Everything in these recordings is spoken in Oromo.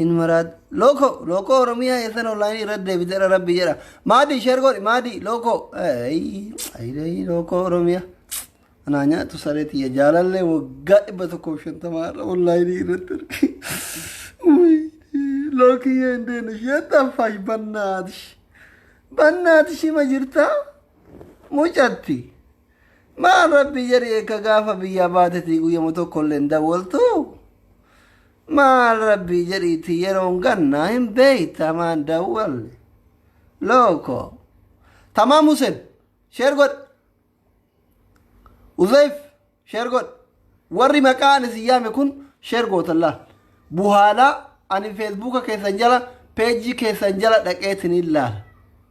hin maraat lookoo lookoo oromiyaa eessan onlaayinii irratti deebiteera rabbi jedha maadii sheer godhi maadii lookoo ayii lookoo oromiyaa anaa nyaatu saree tiyya jaalallee waggaa dhibba tokkoof shantamaa irra onlaayinii irratti arge lookiyyee hin deenu sheettan faash bannaatish bannaatish hima jirtaa mucatti maal rabbi jedhi eekka gaafa biyyaa baatetii guyyama tokkollee hin dawwaltuu Maal rabbii jedhiiti yeroon gannaa hin beeyta maan dawwalle. Looko. Tamaa Museb. Sheer godhi. Uzayf. Sheer godhi. Warri maqaa ani si yaame kun sheer gootan laal. Buhaalaa ani feesbuuka keessan jala peejii keessan jala dhaqeetiniin laala.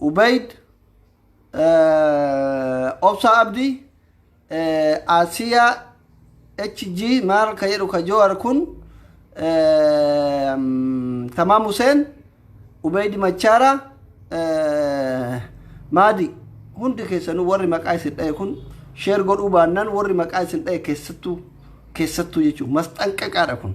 Ubayd, Obsa Abdi, Asiya HG maal ka jedhu ka Jowar kun Tamaam Huseen, Ubayd Machaara, Maadi hundi keessanuu warri maqaa isin dha'e kun sheer godhuu baannaan warri maqaa isin dha'e keessattuu keessattuu jechuun masxanqaqaadha kun.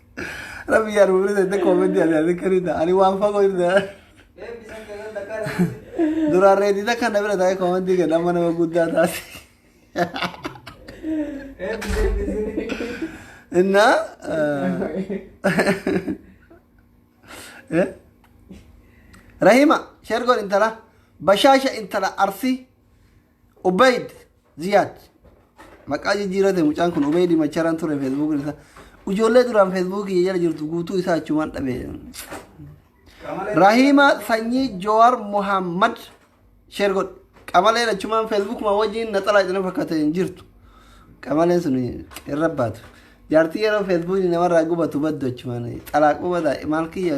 Rabbi yaa ruulee ta'e tokko miti ati ati kariidha. Ani waan fagoo irra. Duraan reedida kana bira ta'e koomantii gad amma nama guddaa taate. Innaa. eh, Rahima sheer godhi intala bashaasha intala arsii. Ubeyd Ziyaad. Maqaa jijjiirate mucaan kun Ubeyd Macharaan ture feesbuukiin isaa. Ijoollee duraan feesbuukii jala jirtu guutuu isaa achumaan dhabe. Rahiima sanyii Jowaar Muhammad sheer godhe. Qamaleen achumaan feesbuukuma wajjin naxalaa itti fakkaate hin jirtu. Qamaleen sun irra baatu. Jaartii yeroo feesbuukii namarraa gubatu baddu achumaan xalaaquu bada maal kiyya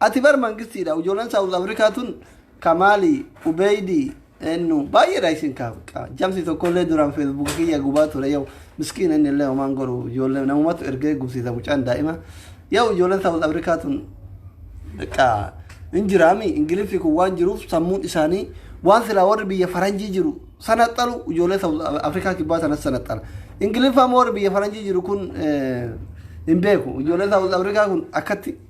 Ati bar mangistiidha ujolan south africa tun kamaali ubeeydi ennu baay'eedha isin kaabqa jamsi tokkollee duraan facebook kiyya gubaa ture yoo miskiin inni illee homaan goru ijoollee namumatu ergee gubsiisa mucaan daa'ima yoo ijoolleen south africa tun Bakka hin jiraami ingiliffi kun waan jiruuf sammuun isaanii waan silaa warri biyya faranjii jiru sanaxalu ijoollee South Afrikaa kibbaa sanas sanaxala. Ingiliffaa immoo warri biyya faranjii jiru kun eh, hin beeku. Ijoolleen South Afrikaa kun akkatti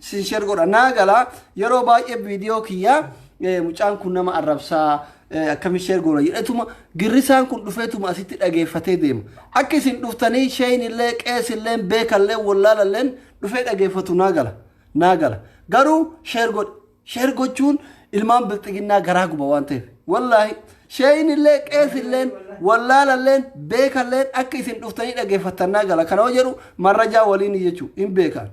sin share godha naa gala yeroo baay'ee viidiyoo kiyya eh, mucaan kun nama arrabsaa eh, akkami share goona jedhetuma girrisaan kun dhufeetuma asitti dhageeffatee deema akka isin dhuftanii sheen illee qees illee beekallee wallaalalleen dhufee dhageeffatu naa gala naa gala garuu share godha share gochuun ilmaan bilxiginnaa garaa guba waan ta'eef wallaahi sheen illee qees illee wallaalalleen beekalleen akka isin dhuftanii dhageeffattan naa gala kana hoo jedhu marrajaa waliin jechuun hin beekan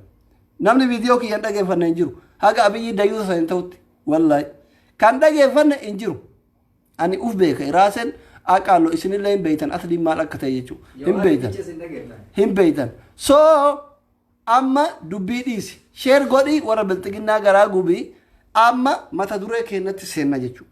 Namni video kiyya hin dhageeffanne hin jiru. Haga Abiyyi dayuusa saniin ta'utti. Wallaahi. Kan dhageeffanne hin jiru. Ani uf beeka. Iraasen aqaallo isinillee hin beeytan asliin maal akka ta'e jechuudha. Hin beeytan. Hin beeytan. So amma dubbii dhiisi. Sheer godhii warra bilxiginnaa garaa gubii amma mata duree keenyatti seenna jechuudha.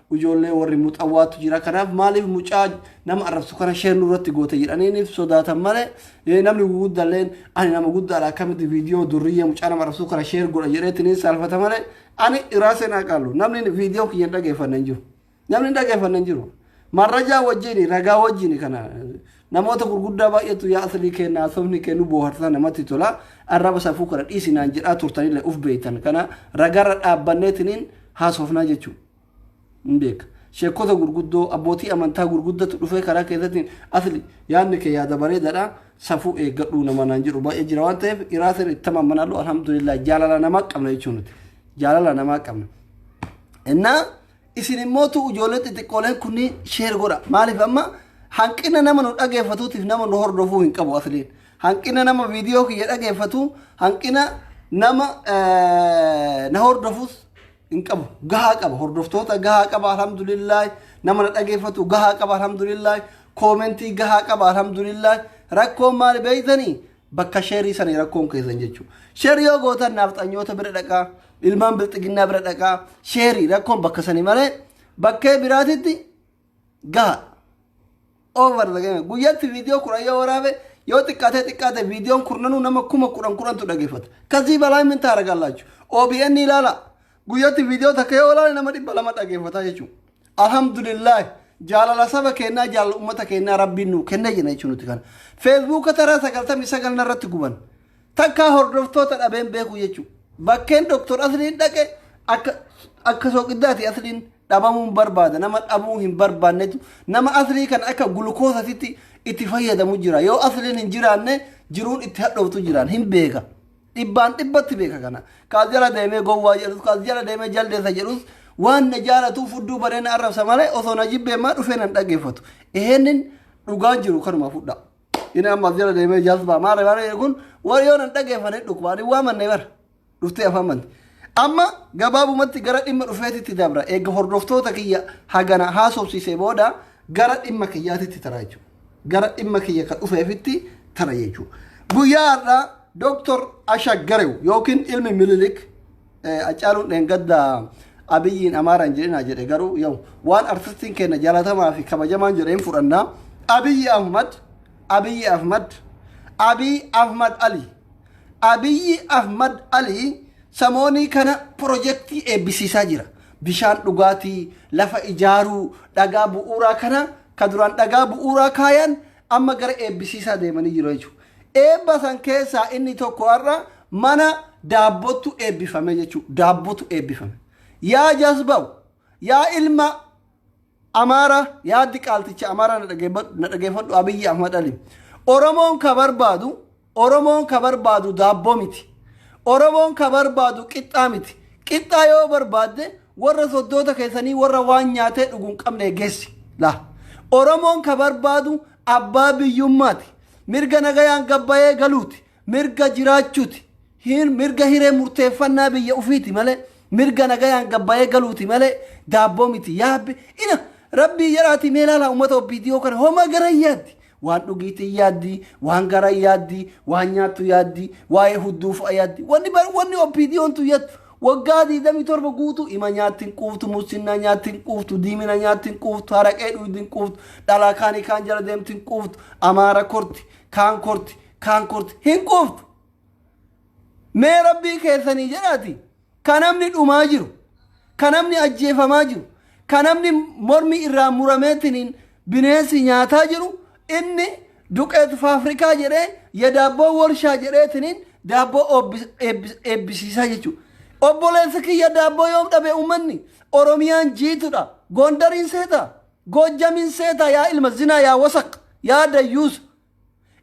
Ijoollee warri muxawwaatu jira. Kanaaf maaliif mucaa nama arrabsu kana sheer nurratti goote jedhaniiniif sodaatan malee eh, namni guguddalleen ani nama guddaadha akkamitti viidiyoo durriyyee mucaa nama arrabsu kana sheer godha jedheetiniin saalfata malee ani irraa seenaa qaallu namni viidiyoo kiyya hin dhageeffanne hin jiru. Namni hin dhageeffanne hin jiru. Marrajaa wajjini ragaa wajjini kana Namoota gurguddaa baay'eetu yaa Aslii keenna haasofni kee nu booharsa namatti tola arraba safuu kana dhiisi naan jedhaa turtanillee uf beektan kana ragaarra dhaabbanneetiniin haasofnaa jechuu hin beeka. Sheekota gurguddoo abbootii amantaa gurguddatu dhufee karaa keessatti asli yaadni kee yaada bareedaadha safuu eeggadhuu nama naan jedhu baay'ee jira waan ta'eef iraasin itti tamammanaallu alhamdulillah jaalala namaa qabna jechuu nuti jaalala namaa qabna. Innaa Isin immoo tu ijoollee xixiqqooleen kunniin sheer godha. Maaliif amma hanqina nama nu dhageeffatuutiif nama nu hordofuu hin qabu asliin. Hanqina nama viidiyoo kiyya dhageeffatu, hanqina nama eh, na hordofus hin qabu. Gahaa qaba. Hordoftoota gahaa qaba alhamdulillaah. Nama na dhageeffatu gahaa qaba alhamdulillaah. Koomentii gahaa qaba alhamdulillaah. Rakkoon maali beektanii? bakka sheerii sani rakkoon keessan jechuu sheerii yoo gootan naafxanyoota bira dhaqaa ilmaan bilxiginnaa bira dhaqaa sheerii rakkoon bakka sani malee bakkee biraatitti gaha over the game guyyatti viidiyoo kudhan yoo waraabe yoo xiqqaatee xiqqaate viidiyoon kurnanuu nama kuma kudhan kudhantu dhageeffata kasii balaa min taara gallaachuu OBN ilaala guyyatti viidiyoo takka yoo ilaale nama dhibba lama dhageeffata jechuudha Alhamdulillahi jaalala saba keennaa jaalala ummata keennaa rabbiin nuu kenne jenna jechuun nuti kana. Feesbuuka taraa sagaltamii sagal narratti guban. Takkaa hordoftoota dhabeen beeku jechuudha. Bakkeen Dooktor Asliin dhaqe akka akka sooqiddaati Asliin dhabamuu hin barbaada. Nama dhabuu hin barbaannetu nama Aslii kana akka gulukoosatitti itti fayyadamu jira. Yoo Asliin hin jiraanne jiruun itti hadhooftu jiraan hin beeka. Dhibbaan dhibbatti beeka kana. Kaas jala deemee gowwaa jedhus, kaas jala deemee jaldeessa jedhus waan na jaalatuu fudduu baree na arrabsa malee osoo na jibbee maa dhufee nan dhaggeeffatu. Eheennin dhugaan jiru kanuma fudhaa. Inni amma as jala deemee jazbaa maarree maarree jedhu kun warri yoo nan dhaggeeffane dhukkuba. Ani waa mannee bara. Dhuftee afaan manti. Amma gabaabumatti gara dhimma dhufeetitti dabra. Eega hordoftoota kiyya hagana haasofsiisee booda gara dhimma kiyyaatitti taraa jechuudha. gara dhimma kiyya ka dhufeefitti tana jechuu guyyaa har'aa doktor ashaggarew yookiin ilmi mililik acaaluun dheengadda abiyyiin amaaraan jedhinaa jedhe garuu yoo waan artistiin keenya jalatamaa fi kabajamaan jedheen fudhannaa abiyyi ahmad abiyyi ahmad abiyyi ahmad ali abiyyi ahmad ali samoonii kana pirojektii eebbisiisaa jira bishaan dhugaatii lafa ijaaruu dhagaa bu'uuraa kana Ka duraan dhagaa bu'uuraa kaayan amma gara eebbisiisaa deemanii jiru jechuudha. Eebba san keessaa inni tokko har'a mana daabbottu eebbifame jechuudha. Daabbotu eebbifame. Yaa jasbaw, yaa ilma Amaara, yaa diqaalticha Amaara na dhageeffadhu Abiyyi Ahmad Ali. Oromoon ka barbaadu Oromoon ka barbaadu daabboo miti. Oromoon ka barbaadu qixxaa miti. Qixxaa yoo barbaadde warra soddoota keessanii warra waan nyaatee dhugu hin qabne geessi. Laa. Oromoon ka barbaadu abbaa biyyummaati. Mirga nagayaan gabbayee galuuti. Mirga jiraachuuti. Hin mirga hiree murteeffannaa biyya ufiiti malee mirga nagayaan gabbayee galuuti malee daabboo miti. Yaabbi ina rabbii jedhaati mee laala uummata OPDO kana homa gara yaaddi. Waan dhugiitii yaaddi, waan garaa yaaddi, waan nyaattu yaaddi, waa'ee hudduu fa'a yaaddi. Wanni bar wanni OPDOn tun yattu waggaa 27 guutuu ima nyaatti hin quuftu, mussinnaa nyaatti hin quuftu, diimina nyaatti hin quuftu, haraqee dhuydi hin quuftu, dhalaa kaanii kaan jala deemti hin quuftu, amaara korti, kaan korti, kaan korti hin quuftu. Mee rabbii keessanii jedhaati. Ka namni dhumaa jiru, ka namni ajjeefamaa jiru, ka namni mormi irraa murameetiniin bineensi nyaataa jiru, inni duqeet faafrikaa jedhee, ya daabboo worshaa jedheetiniin daabboo oobbis- eebbis- eebbisiisaa jechuudha. Obboleessa kiyya daabboo yoom dhabe ummanni? Oromiyaan jiitudha. Goondariin seeta. Goojjamiin seeta yaa ilma zinaa yaa wasaq yaa dayyuusa.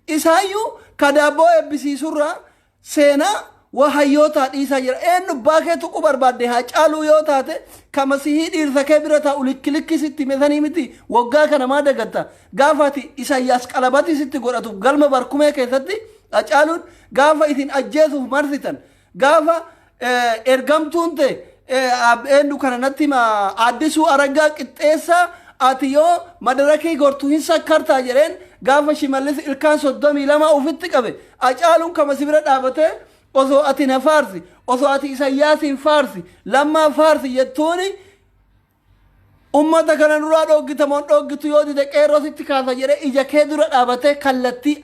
Isaayyuu ka daabboo eebbisiisurraa Seenaa waa hayyootaa dhiisaa jira. Eennu abbaa kee tuquu barbaadde Haacaaluu yoo taate ka Masihii dhiirsa kee bira taa'u likki likki sitti hime sanii miti waggaa kana maa dagatta? Gaafa ati Isayyaas qalabatii sitti godhatuuf galma Barkumee keessatti Hacaaluun gaafa isin ajjeesuuf marsitan gaafa ergamtuun te eenyu kana natti hima addisuu araggaa qixxeessa ati yoo madarakii gortu hin sakkartaa jedheen gaafa shimallis ilkaan soddomii lama ofitti qabe acaaluun kama si bira dhaabate osoo ati na faarsi osoo ati isayyaasiin faarsi lammaa faarsi jettuuni Ummata kana nurraa dhooggita moo hin dhooggitu yoo dide qeerroo sitti kaasa jedhee ija kee dura dhaabatee kallattii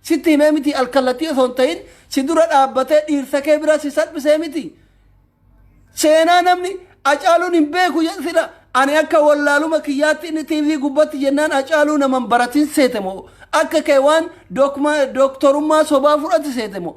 sitti himee mitii alkallattii osoo hin tahin si dura dhaabbatee dhiirsa kee bira si salphisee mitii seenaa namni acaaluun hin beeku jedhu sila ani akka wallaaluma kiyyaatti inni TV gubbatti jennaan acaaluu naman baratin seete moo akka kee waan dokma- doktorummaa sobaa fudhati seete moo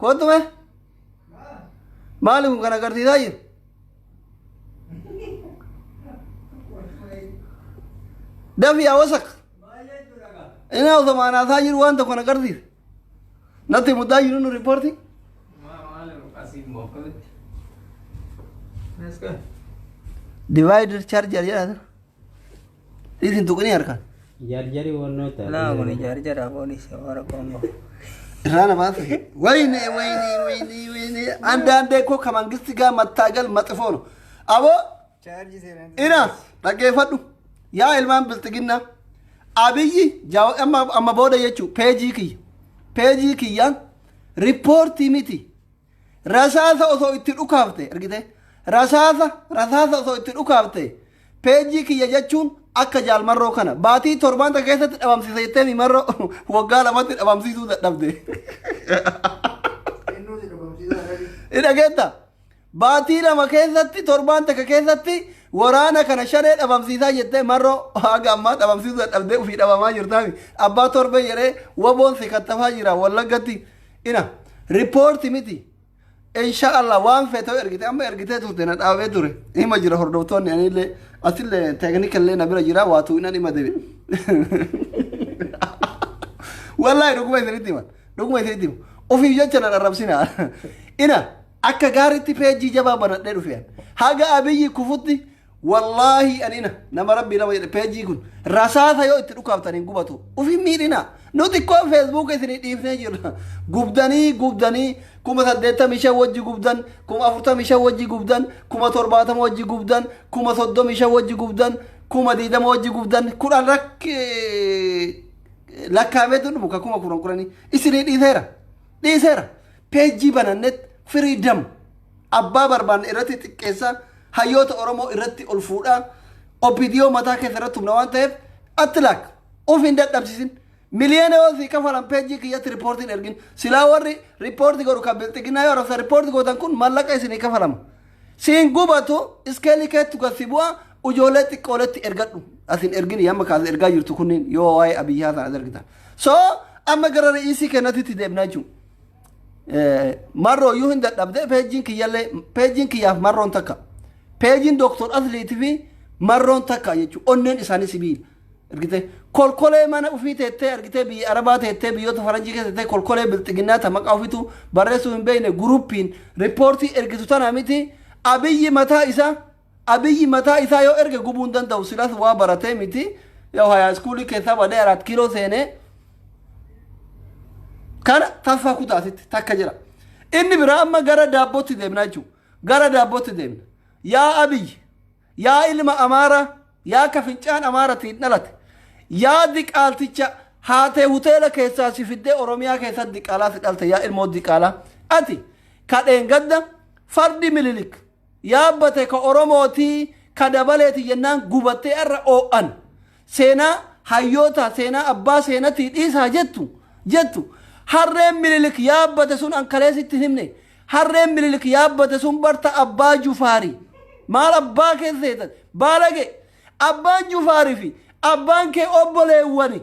Kottu mee? Maali kun kan agarsiisaa jiru? Dafii yaa wasak. Inni osoo maanaasaa jiru waan tokko na agarsiisa. Natti muddaa jiru nu riippoortii. Divider charger jedhama. Dhiisi hin tuqinii harkaan. Jarjari wannoo ta'a. Laa kuni jarjara poolisi warra Kongo. Irraa namaa fi wayne wayne wayne wayne anda anda ko ka mangisti gaa mattaagal maxifoono. Aboo Chaarjii seenaan. ina dhaggeeffadhu yaa ilmaan bilxiginnaa abiyyi jaawa amma amma booda jechuu peejii kiyya peejii kiyyaan riippoortii miti Rasaasa osoo itti dhukaafte argite rasaasa rasaasa osoo itti dhukaafte peejii kiyya jechuun akka jaalmarroo kana baatii torbaan takka keessatti dhabamsiisa jettee mimarroo waggaa lamatti dhabamsiisuu dadhabde. Innuuti dhabamsiisaa dhabi. Dhageetta baatii lama keessatti torbaan takka keessatti waraana kana shanee dhabamsiisaa jettee marroo haga ammaa dhabamsiisuu dadhabdee ofii dhabamaa jirtaami abbaa torbee jedhee waboon si kattafaa jira wallaggatti ina ripoorti miti insha allah waan feetoo ergite amma ergitee turte na dhaabee ture hima jira hordoftoonni anillee asillee teeknikallee na bira jira waatuu inan hima debi wallaahi dhuguma isinitti hima dhuguma isinitti hima ofiif jecha na dharrabsina ina akka gaaritti peejii jabaa banadhee dhufean haga abiyyi kufutti Wallaahi anina nama rabbii nama jedhe peejii kun rasaasa yoo itti dhukaaftan hin gubatu ufi miidhina nu xiqqoo feesbuuka isinii dhiifnee jirra gubdanii gubdanii kuma saddeettamii shan wajji gubdan kuma afurtamii shan wajji gubdan kuma torbaatama wajji gubdan kuma soddomii shan wajji gubdan kuma diidama wajji gubdan kudhan rakki lakkaamee tun muka kuma kudhan kudhanii isinii dhiiseera dhiiseera peejii banannet firiidam Abbaa barbaanne irratti xiqqeessa, hayyoota Oromoo irratti ol fuudha, OPDO mataa keessa irratti humna waan ta'eef atti laak of hin dadhabsiisin. Miliyoona yoo sii kafalan peejii kiyyatti riippoortii hin ergin. Silaa warri riippoortii godhu kan bilxiginnaa yoo arrabsa riippoortii gootan kun mallaqa isinii kafalama. Siin gubatu iskeelii keettu gad si bu'a ijoollee xiqqooletti ergadhu. As hin ergin yamma kaas ergaa jirtu kunniin yoo waa'ee Abiyyi Haasan as ergitan. So amma gara re'iisii kennatitti deebnaa jechuudha. Marroo yoo hin dadhabde peejiin kiyyallee peejiin kiyyaaf marroon takka. Peejiin Dooktor Asliitii fi marroon takka jechuudha. Onneen isaanii sibiila. Argitee kolkolee mana ofii teettee argitee biyya Arabaa teettee biyyoota Faranjii keessa teettee kolkolee bilxiginnaa ta maqaa ofiitu barreessuu hin beekne guruppiin riippoortii ergitu tana miti abiyyi mataa isaa Abiy mataa isaa yoo erge gubuu hin danda'u silas waa baratee miti yaw hayaa iskuulii keessaa badee araat kiiloo seenee kana tasfaa kutaa asitti takka jira inni biraa amma gara daabbootti deemna jechuudha gara daabbootti deemna yaa abiy yaa ilma amaaraa yaa ka fincaan amaaratiin dhalate yaa diqaalticha haatee hoteela keessaa si fiddee oromiyaa keessatti diqaalaa si dhalte yaa ilmoo diqaalaa ati kadheen gadda fardi mililik Yaabbate ka Oromooti ka dabaleeti jennaan gubattee arra oo'an. Seenaa hayyootaa seenaa abbaa seenatii dhiisaa jettu jettu. Harreen Minilik yaabbate sun an kalee sitti hin himne. Harreen Minilik yaabbate sun bar ta abbaa Jufaari. Maal abbaa kee seetan? Baalage! Abbaan Jufaari fi abbaan kee obboleewwani.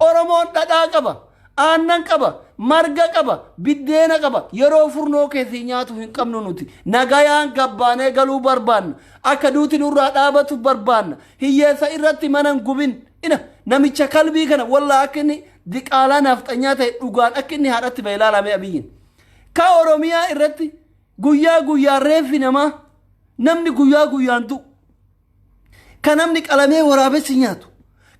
Oromoon dhadhaa qaba, aannan qaba, marga qaba, biddeena qaba. Yeroo furnoo keessii nyaatu hin qabnu nuti. Nagayaan gabbaanee galuu barbaanna. Akka duuti nurraa dhaabatu barbaanna. Hiyyeessa irratti mana hin gubin. Ina namicha kalbii kana wallaa akka inni diqaalaa naafxanyaa ta'e dhugaan akka inni haadhatti ba'e ilaalamee abiyyiin. Ka Oromiyaa irratti guyyaa guyyaan reeffi namaa namni guyyaa guyyaan du'u. ka namni qalamee waraabessi nyaatu,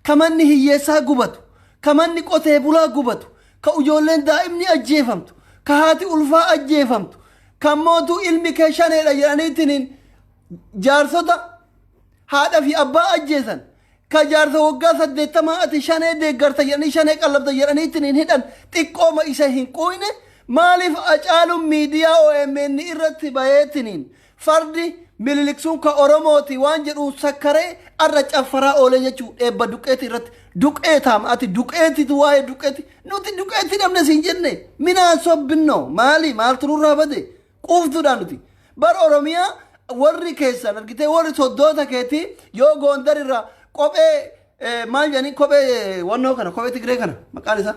ka manni hiyyeessaa gubatu, ka manni qotee bulaa gubatu, ka ujoolleen daa'imni ajjeefamtu, ka haati ulfaa ajjeefamtu, ka ammootu ilmi kee shaneedha jedhaniitiin jaarsota haadha fi abbaa ajjeesan, ka jaarsa waggaa saddeettamaa ati shanee deeggarta jedhanii shanee qallabda jedhaniitiin hidhan xiqqooma isa hin quuyne maaliif acaaluun miidiyaa OMN irratti bayeetiniin Fardi Minilik sun ka Oromooti waan jedhuun sakkaree arra caffaraa oolee jechuu eebba duqqeeti irratti. Duqqeetaam ati duqqeetitu waa'ee duqqeeti. Nuti duqqeeti dhabne siin jenne minaa sobbinno maali maaltu nurraa bade quuftuudha nuti. Bar Oromiyaa warri keessan argitee warri soddoota keetii yoo Goondar irraa kophee eh, maal jedhanii kophee eh, wannoo kana kophee Tigree kana maqaan isaa.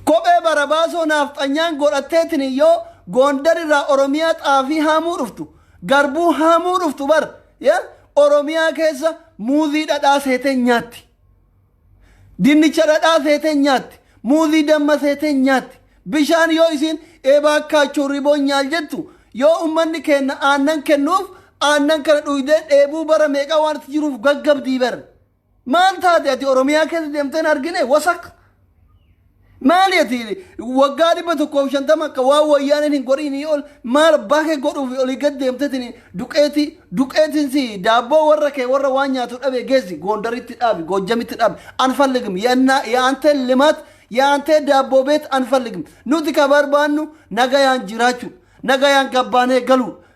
Kophee barabaasoo naafxanyaan godhatteetiin yoo Goondar irraa Oromiyaa xaafii haamuu dhuftu, garbuu haamuu dhuftu bar ya Oromiyaa keessa muuzii dhadhaa seeteen nyaatti. Dinnicha dhadhaa seeteen nyaatti. Muuzii damma seeteen nyaatti. Bishaan yoo isiin eebaa kaachuu riboon nyaal jettu yoo ummanni keenna aannan kennuuf aannan kana dhuydee dheebuu bara meeqaa waan itti jiruuf gaggabdii bar. Maal taate ati Oromiyaa keessa deemteen argine wasak. Maali ati waggaa dhibba tokkoof shantama akka waan wayyaaneen hin godhiinii ol maal abbaa kee godhuuf olii gad deemteetiin duqeetii duqeetiin si daabboo warra kee warra waan nyaatu dhabe geessi goondaritti dhaabi goojjamitti dhaabi anfalligim yannaa yaantee limaat yaantee daabboo beet anfalligim nuti ka barbaannu nagayaan jiraachuu nagayaan gabbaanee galuu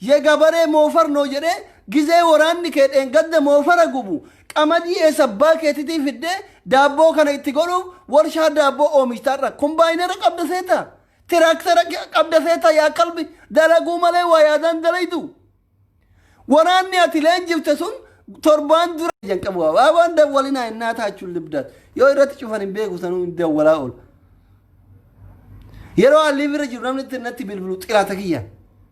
Ye gabaree moofar noo jedhee gizee woraanni kee dheengadda moofara gubu qamadii eessa abbaa keetitii fiddee daabboo kana itti godhuuf worshaa daabboo oomishta har'a kumbaayinara qabda seeta tiraaktara qabda seeta yaa kalbi dalaguu malee waa yaadaan dalaydu woraanni ati leenjifte sun torbaan dura jan qabu abaabaan dawwalinaa innaa taachuun libdaat yoo irratti cufan hin beeku sanuu hin dawwalaa oolu yeroo alliif irra jiru namni itti natti bilbilu xiraata kiyyaan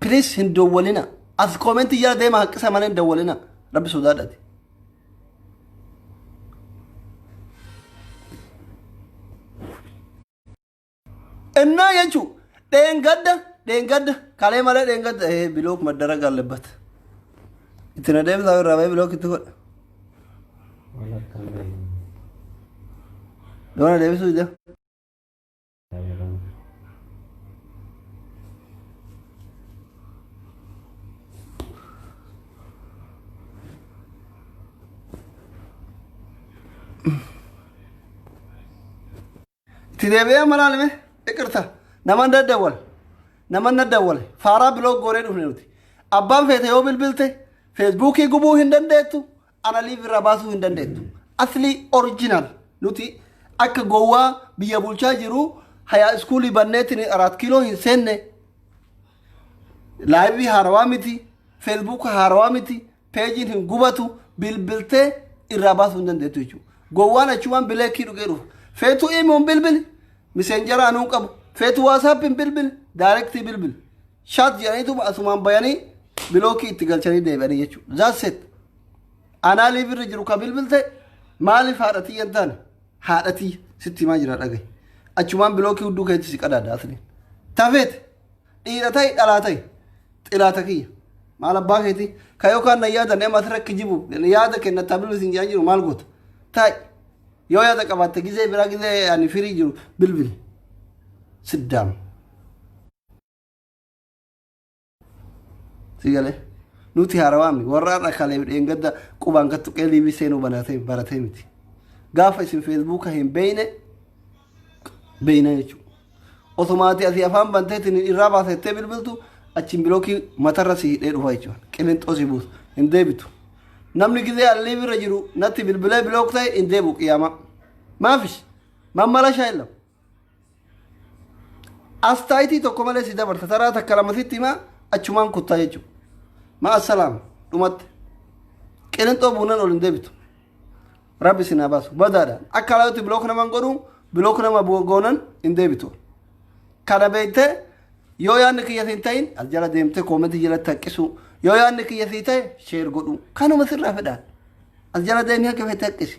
Please hin dawwalina. As koomentii jala deema haqqisa malee hin dawwalina. Rabbi sodaadhati. Innaa jechuun dheengadda dheengadda kalee malee dheengadda ee bilook maddara gaallebbat. Itti na deebisaa irraa ba'ee bilook itti godha. Yoo na deebisuu ija. Itti deebi'ee malaan hime iqirta naman daddawwal naman daddawwal faaraa biloog goonee dhufne nuti abbaan feete yoo bilbilte feesbuukii gubuu hin dandeettu Ana live irraa baasuu hin dandeettu. Asli original nuti akka gowwaa biyya bulchaa jiru hayaa iskuulii banneetiin araat kiiloo hin seenne. Laayivii haarawaa miti, feesbuuka haarawaa miti, peejiin hin gubatu, bilbiltee irraa baasuu hin dandeettu jechuudha. Gowwaan achumaan bileekii dhugee dhufa. Feetuu imuun bilbili, miseenjara anuu qabu. Feetuu waasaappiin bilbili, daayirektii bilbili. Shaat jedhaniituma asumaan bayanii bilookii itti galchanii deebi'anii jechuudha. That's it. Anaa liiv irra jiru ka bilbilte maaliif haadha tiyya hin taane haadha tiyya sitti himaa jira dhagaye. Achumaan bilookii hudduu keetti si qadaada asliin. Tafeet dhiira ta'i dhalaa ta'i xiraata kiyya. Maal abbaa keeti ka yookaan na yaadan ema asirra kijibu yaada kenna tabilu isin jedhan jiru maal goota ta'i. Yoo yaada qabaatte gizee biraa gizee ani firii jiru bilbili. Sit down. si galee nuti haarawaa miti warra har'a kalee dheengadda qubaan kattu qeeliibii seenuu banatee baratee miti gaafa isin feesbuuka hin beeyne beeyna jechuudha otomaatii asii afaan banteetiin irraa baasettee bilbiltu achiin bilookii matarra si hidhee dhufa jechuudha qilinxoo si buusa hin deebitu namni gizee allii bira jiru natti bilbilee bilook ta'e hin deebu qiyaamaa maafis mammala shaayilama Astaayitii tokko malee si dabarta. Taraa takka lama sitti himaa achumaan kuttaa jechuudha. Ma'a salaam dhumatti. Qilinxoo buunan ol hin deebitu. Rabbi sinaa baasu. Badaadha. Akka alaatti bilook naman godhu bilook nama bu- goonan hin deebitu. Kana beektee yoo yaadni kiyya siin ta'in as jala deemtee koomentii jalatti haqqisuu. Yoo yaadni kiyya sii ta'e sheer godhuu. Kanuma sirraa fedhaan. As jala deemee akka feete haqqisi.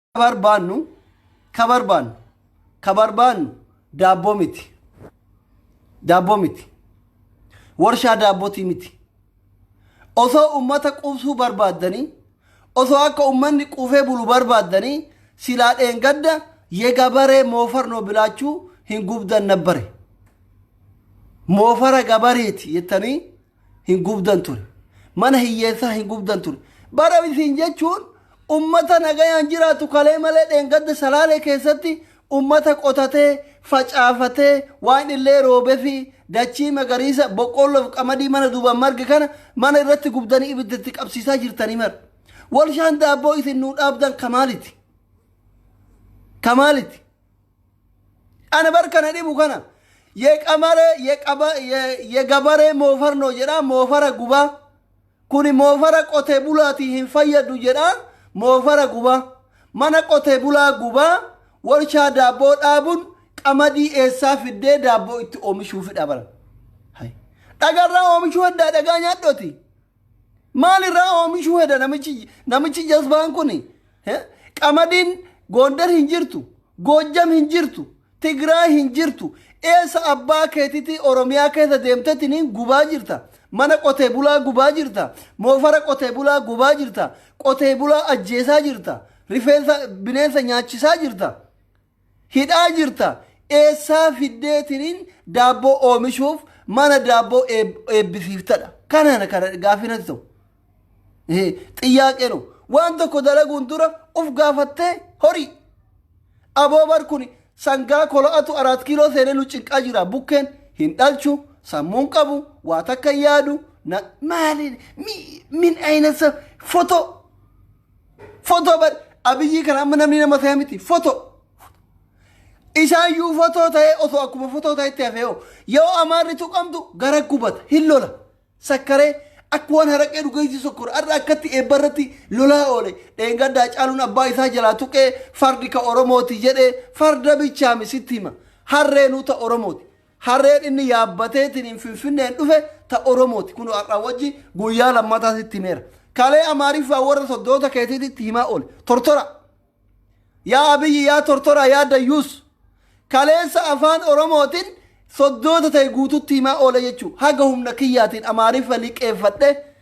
barbaannu ka barbaannu ka barbaannu daabboo miti daabboo miti warshaa daabbootii miti osoo ummata quubsuu barbaaddanii osoo akka ummanni quufee bulu barbaaddanii silaa dheengadda yegabaree moofarnoo bilaachuu hin gubdan nabbare moofara gabareeti jettanii hin gubdan ture. Mana hiyyeessaa hin gubdan ture. Bara isin jechuun ummata nagayaan jiraatu kalee malee dheengadda salaalee keessatti ummata qotatee, facaafatee, waan illee roobefi dachii magariisa boqqoolloof qamadii mana duubaan marge kana mana irratti gubdanii ibidda itti qabsiisaa jirtanii mara. Walshaan daabboo isin nuu dhaabdan kamaaliti. Kamaaliti. Ana bar kana dhibu kana. Ye qamare ye qaba ye, ye gabaree moofarnoo jedhaa moofara gubaa. Kuni moofara qotee bulaatii hin fayyadu jedhaa moofara gubaa. Mana qotee bulaa gubaa warshaa daabboo dhaabun qamadii eessaa fiddee daabboo itti oomishuufidha bara. Hai. Dhagarraa oomishuu heddaa dhagaa nyaadhoti. Maalirraa oomishuu heda namichi namichi jazbaan kun eh? qamadiin Gondar hin jirtu, Goojjam hin jirtu, Tigraay hin jirtu. Eessa abbaa keetitii Oromiyaa keessa deemtetti niin gubaa jirta. Mana qotee bulaa gubaa jirta. Moofara qotee bulaa gubaa jirta. Qotee bulaa ajjeesaa jirta. Rifeensa bineensa nyaachisaa jirta. Hidhaa jirta eessaa fiddee tiniin daabboo oomishuuf mana daabboo eebbisiiftadha. Kanana kana gaaffii natti ta'u. Xiyyaaqeenu waan tokko dalaguun dura uf gaafattee horii. Aboo bar kun sangaa kolo'atu araat kiiloo seenee nu cinqaa jira bukkeen hin dhalchu sammuun qabu waa takka yaadu maali min ayinasa fotoo. Fotoo bar abiyyii kana amma namni nama ta'e miti fotoo. Isaayyuu fotoo ta'ee osoo akkuma fotoo ta'etti hafee hoo yoo amaarri tuqamtu gara gubata hin lola sakkaree akka waan haraqee dhugeessi sokkora har'a akkatti eebba irratti lolaa oole dheengaddaa caaluun abbaa isaa jalaa tuqee fardi ka oromooti jedhee farda bichaami sitti hima harreenuu ta oromooti. Harreen inni yaabbateetiin Finfinneen dhufe ta Oromooti. Kunoo har'aa wajji guyyaa lammataa sitti himeera. Kalee Amaariffaa warra soddoota keetiititti himaa oole. Tortora. Yaa Abiyyi yaa tortora yaa dayyuus. Kaleessa afaan Oromootiin soddoota ta'e guututti himaa oole jechuu. Haga humna kiyyaatiin Amaariffa liqeeffadhe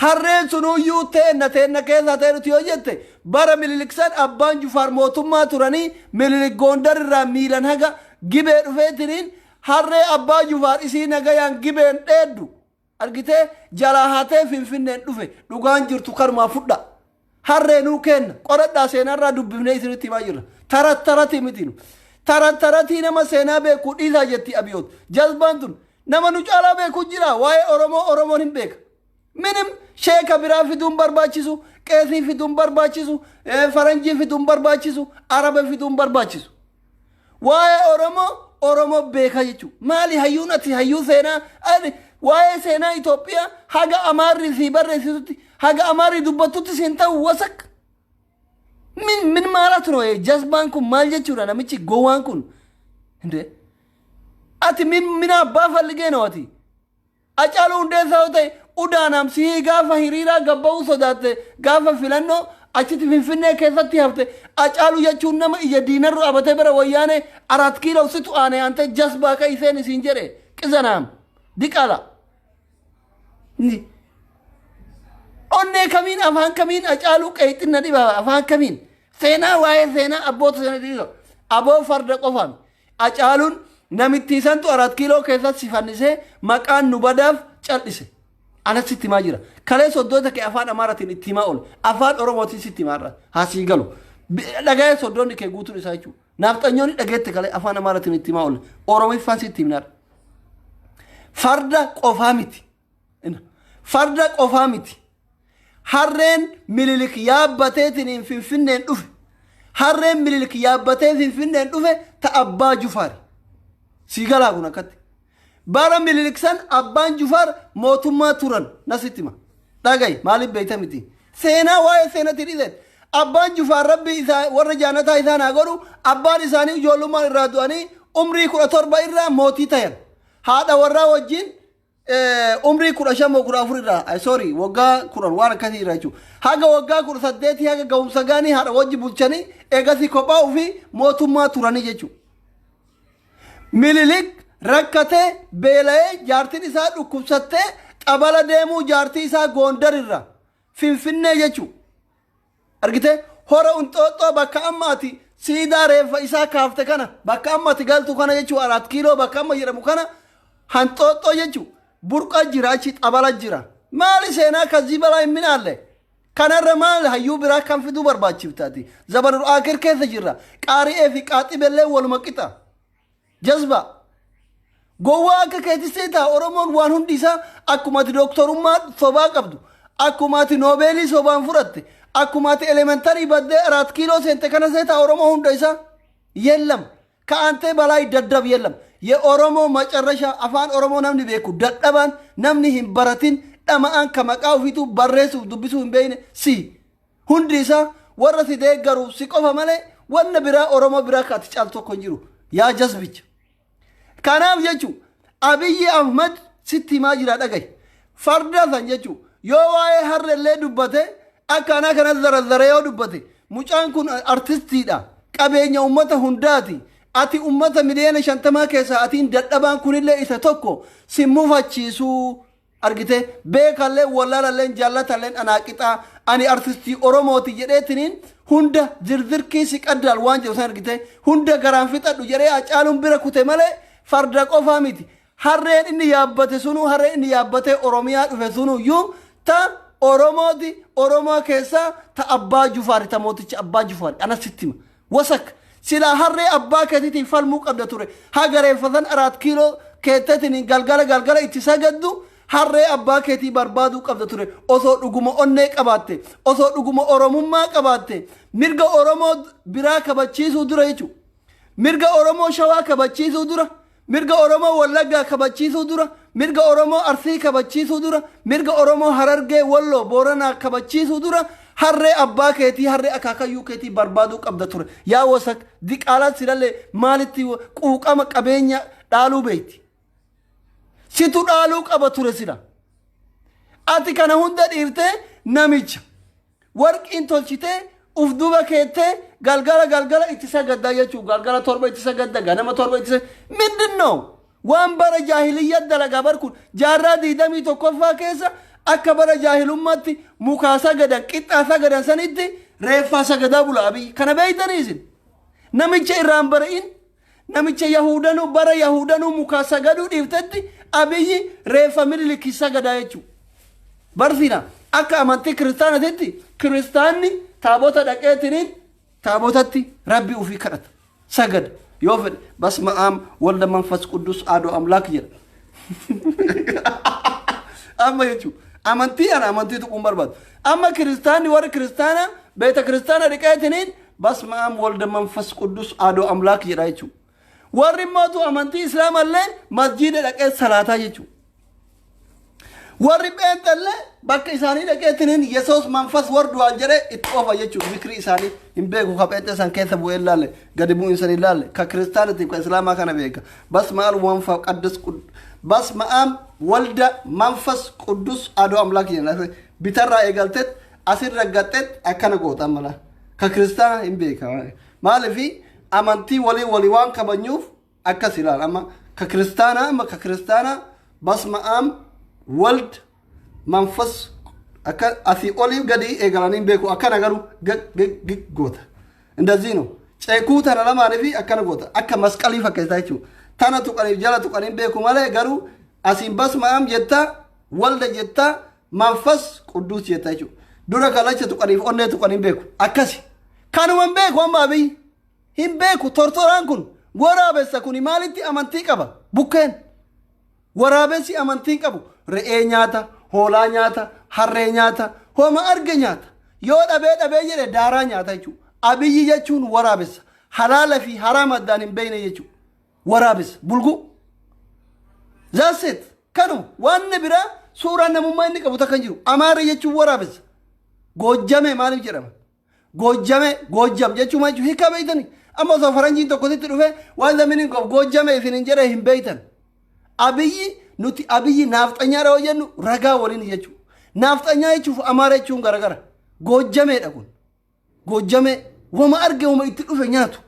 Harreen sunuyyuu teenna teenna keessaa ta'e nuti yoo jette bara Minilik san abbaan Jufaar mootummaa turanii Minilik Goondar irraa miilan haga Gibee dhufeetiniin harree abbaa Jufaar isii nagayaan Gibeen dheeddu argitee jalaa hatee Finfinneen dhufe dhugaan jirtu kanumaa fudhaa. Harree nuu keenna. Qoradhaa seenaa irraa dubbifnee isinitti himaa jirra. Tarat taratii miti nu. Tarat taratii nama seenaa beeku dhiisaa jetti Abiyoot. Jazbaan tun nama nu caalaa beeku jira waa'ee Oromoo Oromoon hin beeka. Minim sheeka biraa fiduun barbaachisu, qeesii fiduun barbaachisu, faranjii fiduun barbaachisu, araba fiduun barbaachisu. Waa'ee Oromoo Oromoo beeka jechuun maali hayyuun ati hayyuu seenaa ani waa'ee seenaa Itoophiyaa haga Amaarri sii barreessitutti haga Amaarri dubbattutti siin ta'u wasak. Min min maalaa turee jasbaan kun maal jechuudha namichi gowwaan kun. Hindee. Ati min min abbaa falligee noo ati. Hacaaluu Hundeessaa yoo ta'e Udaanaam sihii gaafa hiriiraa gad ba'uu sodaatte gaafa filannoo achitti Finfinnee keessatti hafte Hacaaluu jechuun nama ija diinarra dhaabate bara Wayyaanee Araat Kiiloo situ aane aantee jasbaa ka'i seeni siin jedhe qizanaam diqala Ni- onnee kamiin afaan kamiin Hacaaluu qeexin na dhiba afaan kamiin seenaa waa'ee seenaa abboota sana dhiiga aboo farda qofaami Acaalun namittii santu arat kiiloo keessatti si fannisee maqaan nu badaaf cal'ise. Anas sitti himaa jira. Kaleessa oddoota kee afaan Amaaratiin itti himaa oole. Afaan Oromootiin sitti himaa irra haa sii galu. Dhaga'ee soddoonni kee guutuun isaa jechuudha. Naafxanyoonni dhageette kale afaan Amaaratiin itti himaa oole. Oromiffaan sitti himnaadha. Farda qofaa miti. Farda qofaa miti. Harreen Minilik yaabbateetiin Finfinneen dhufe. Harreen Minilik yaabbatee Finfinneen dhufe ta Abbaa Jufaari. Sii galaa kun akkatti. Bara Minilik san Abbaan Jufaar mootummaa turan nasitti hima. Dhagayi maaliif beeyta miti. Seenaa waa'ee seenatii dhiiseen. Abbaan Jufaar rabbi isaa warra jaannataa isaan haa godhu abbaan isaanii ijoollummaan irraa du'anii umrii kudha torba irraa mootii tayan. Haadha warraa wajjin eh, umrii kudha shan moo kudha afur irraa ay, sorry waggaa kudhan waan akkasii irraa jechuudha haga waggaa kudha saddeetii haga ga'umsa gaanii haadha wajji bulchanii eegasii kophaa ofii mootummaa turanii jechuudha. Mililik rakkatee beela'ee jaartiin isaa dhukkubsattee xabala deemuu jaartii isaa goondar irraa finfinnee jechuudha. Argitee? Hora Inxooxxoo bakka amma ati siidaa reeffa isaa kaafte kana bakka amma ati galtu kana jechuu araat kiiloo bakka amma jedhamu kana hanxooxxoo jechuu burqa jira achi xabala jira. Maali seenaa kazii balaa hin minaalle? Kanarra maal hayyuu biraa kan fiduu barbaachiftaati? Zabanul Aakir keessa jirra. Qaari'ee fi qaaxibellee waluma qixa. Jazbaa. Gowwaa akka keetis seetaa Oromoon waan hundi isaa akkuma ati dooktorummaa sobaa qabdu, akkuma ati noobeelii sobaan fudhatte, akkuma ati elementarii baddee araat kiiloo seente kana seetaa Oromoo hunda isaa. Yellam. Ka'antee balaay daddab yellam. Ye Oromoo macarrashaa afaan Oromoo namni beeku dadhabaan namni hin baratin dhama'aan ka maqaa ofiituu barreessuuf dubbisuu hin beekne si. Hundi isaa warra si deeggaruuf si qofa malee wanna biraa Oromoo biraa akka ati caaltu tokko hin jiru. Yaa jasbicha. Kanaaf jechuun Abiyyi Ahmad sitti himaa jira dhagahi. Farda san jechuun yoo waa'ee harrellee dubbate akka anaa kana zarazzaree yoo dubbate mucaan kun artistiidha. Qabeenya uummata hundaati. Ati uummata miliyoona shantamaa keessaa atiin dadhabaan kunillee isa tokko si mufachiisuu. argite beekalleen wallaalalleen jaallatalleen anaa qixaa ani artistii oromooti jedheetiniin hunda zirzirkii si qaddaal waan jedhu san argite hunda garaan fixadhu jedhee acaaluun bira kute malee farda qofaa miti harreen inni yaabbate sunuu harreen inni yaabbatee oromiyaa dhufe sunuu iyyuu ta oromooti oromoo keessaa ta abbaa jufaari ta mooticha abbaa jufaari anas sittima Wasak. Silaa harree abbaa ketitiin falmuu qabda ture. Haga reeffasan araat kiiloo keettetiniin galgala galgala itti sagaddu harree abbaa ketii barbaaduu qabda ture. Osoo dhuguma onnee qabaatte. Osoo dhuguma oromummaa qabaatte. Mirga oromoo biraa kabachiisuu dura jechu. Mirga oromoo shawaa kabachiisuu dura Mirga Oromoo Wallaggaa kabachiisuu dura, mirga Oromoo Arsii kabachiisuu dura, mirga Oromoo Harargee, Walloo, Booranaa kabachiisuu dura harree abbaa keetii, harree akaakayyuu keetii barbaaduu qabda ture. Yaa wasak, diqaalaan silallee maalitti quuqama qabeenya dhaaluu beekti? Situ dhaaluu qaba ture sila. Ati kana hunda dhiirtee namicha. Warqiin tolchitee uf duuba keettee galgala galgala itti sagaddaa jechuu galgala torba itti sagadda ganama torba itti sagadda mindin no waan bara jaahiliyyaa dalagaa bar kun jaarraa diidamii tokkoffaa keessa akka bara jaahilummaatti mukaa sagadan qixxaa sagadan sanitti reeffaa sagadaa bula abiyyi kana beeytanii isin namicha irraan bari'in Namicha yahudanuu bara yahudanuu mukaa sagaduu dhiiftetti abiyyi reeffa minilikki sagadaa jechuu. Barsiina akka amantii kiristaanatitti kiristaanni taabota dhaqeetiniin taabotatti rabbi ufii kadhata. Sagada yoo fedhe basma aam walda manfas quddus aadoo amlaak jedha. amma jechuun amantii ana amantii tuquun barbaadu. Amma kiristaanni warri kiristaana beeta kiristaana dhiqeetiniin Basma'aam walda manfas quddus aadoo amlaak jedha jechuudha. Warri mootu amantii islaama illee masjiida dhaqee salaataa jechuudha. Warri pheenxa illee bakka isaanii dhaqee tiniin yesoos manfas warduwaan jedhee itti oofa jechuudha. Zikrii isaanii hin beeku ka pheenxa isaan keessa bu'ee hin laalle gadi bu'u isaan hin laalle ka kiristaanatiif ka islaamaa kana beeka. Basma'aal wanfa qaddus quddus. Basma'aam walda manfas quddus aadoo amlaak jedha. Bitarraa eegalteet asirra gaxxeet akkana goota ammalaa. ka kiristaana hin beeka maaliif amantii walii walii waan kabanyuuf akkas ilaal amma ka kiristaanaa amma ka kiristaanaa basma am wald manfas akka asii olii gadi eegalanii hin beeku akkana garuu gig goota indazii no ceekuu tana lamaanii fi akkana goota akka masqalii fakkeessaa jechuudha tana tuqaniif jala tuqanii hin beeku malee garuu asiin basma am jettaa walda jettaa Manfas qudduus jetta jechuudha. Dura kalacha tuqaniif onnee tuqan hin beeku. Akkasi. Kanuma hin beeku amma abiy. Hin beeku tortoraan kun waraabessa kuni maalitti amantii qaba bukkeen. Waraabessi amantiin qabu re'ee nyaata, hoolaa nyaata, harree nyaata, homa arge nyaata. Yoo dhabee dhabee jedhe daaraa nyaata jechuudha. Abiyyi jechuun waraabessa. Halaala fi haraama addaan hin beekne jechuudha. Waraabessa. Bulguu. That's it. Kanuma. Waanna biraa suuraa namummaa inni qabu takka hin jiru. Amaara jechuun waraabessa. Goojjamee maaliif jedhama? Goojjamee, goojjam jechuun maal jechuudha? Hiikaa beektani? Amma osoo faranjiin tokko sitti dhufee waan the meaning of goojjamee isin hin jedhee hin beektan. Abiyyi nuti abiyyi naafxanyaadha yoo jennu ragaa waliin jechuudha. Naafxanyaa jechuuf amaara jechuun garagara. Goojjameedha kun. Goojjamee wama arge wama itti dhufe nyaatu.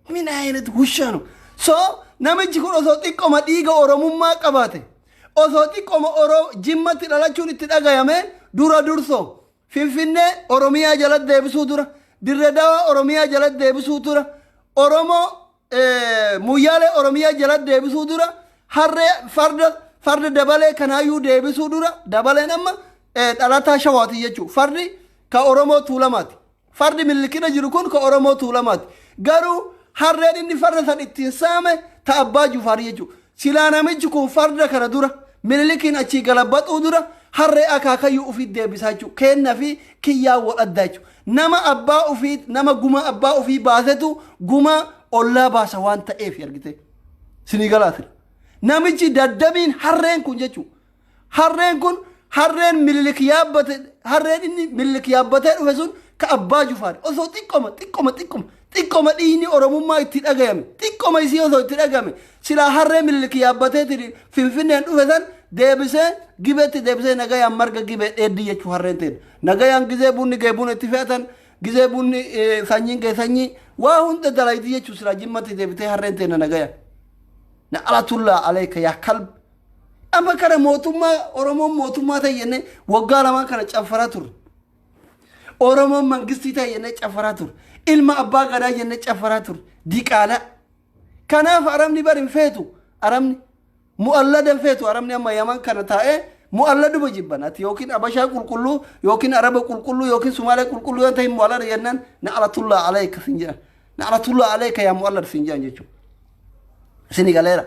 Min ayinat hushaanu. So namichi kun osoo xiqqoma dhiiga oromummaa qabaate osoo xiqqoma oro jimmatti dhalachuun itti dhagayame dura durso finfinnee oromiyaa jala deebisuu dura dirre dawaa oromiyaa jala deebisuu dura oromoo Moyyaalee Oromiyaa jalatti deebisuu dura harree farda farda dabalee kanaayyuu deebisuu dura dabaleen amma dhalataa shawaati jechuudha. Fardi ka Oromoo Tuulamaati. Fardi millikina jiru kun ka Oromoo Tuulamaati. Garuu harreen inni farda san ittiin saame ta abbaa Jufaari jechuudha. Silaa namichi kun farda kana dura mililikiin achii galabaxuu dura harree akaakayyuu ofiit deebisaa jechuudha. Keenna fi kiyyaa wal addaa jechuudha. Nama abbaa ofii nama guma abbaa ofii baasetu guma ollaa baasa waan ta'eef argitee. Sinii galaatira. Namichi daddabiin harreen kun jechuudha. Harreen kun harreen mililik yaabbate harreen inni mililik yaabbatee dhufe sun ka abbaa jufaari osoo xiqqoma xiqqoma xiqqoma Xiqqoma dhiiyni Oromummaa itti dhagayame, xiqqoma isii osoo itti dhagame, silaa harree Minilik yaabbateetiin Finfinneen dhufe san deebisee Gibeetti deebisee nagayaan marga Gibee dheeddi jechuu harreen teen. Nagayaan gizee bunni gee buna itti fe'atan, gizee bunni eh, sanyiin gee sanyii, waa hunda dalaydi jechuu silaa jimmatti deebitee harreen teenna nagayaan. Na'alatullaa aleeka yaa kalb. Amma kana mootummaa Oromoon mootummaa ta'e jennee waggaa lamaan kana caffaraa turre. Oromoon mangistii ta'e jennee caffaraa ture. Ilma abbaa gadaa jennee caffaraa ture. Diqaalaa. Kanaaf Arabni bari hin feetu. Arabni mu'allada hin feetu. Arabni amma yaman kana taa'ee mu'alladuma jibban. Ati yookiin Abashaa qulqulluu yookiin Araba qulqulluu yookiin Sumaalee qulqulluu yoo ta'e mu'allada jennaan na'alatullaa aleeka sin jedhan. Na'alatullaa aleeka yaa mu'allada sin jedhan jechuudha. Sini galeera.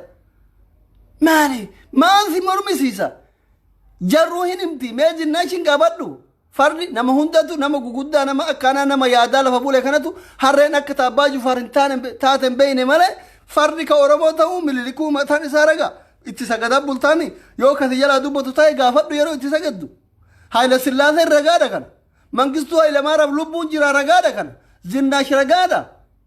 Maali? Maal si mormisiisa? Jarruu hin himti mee jinnaa ishin gaafadhu. Fardi nama hundatu nama guguddaa nama akkaanaa nama yaadaa lafa bule kanatu harreen akka ta abbaa jufaar hin taane taate hin beeyne malee fardi ka oromoo ta'uu mililikuu mataan isaa raga itti sagadaa bultaami yoo kasi jalaa dubbatu ta'e gaafadhu yeroo itti sagaddu haayila sillaaseen ragaadha kana mangistuu haayila maaraaf lubbuun jira ragaadha kana zinnaash ragaadha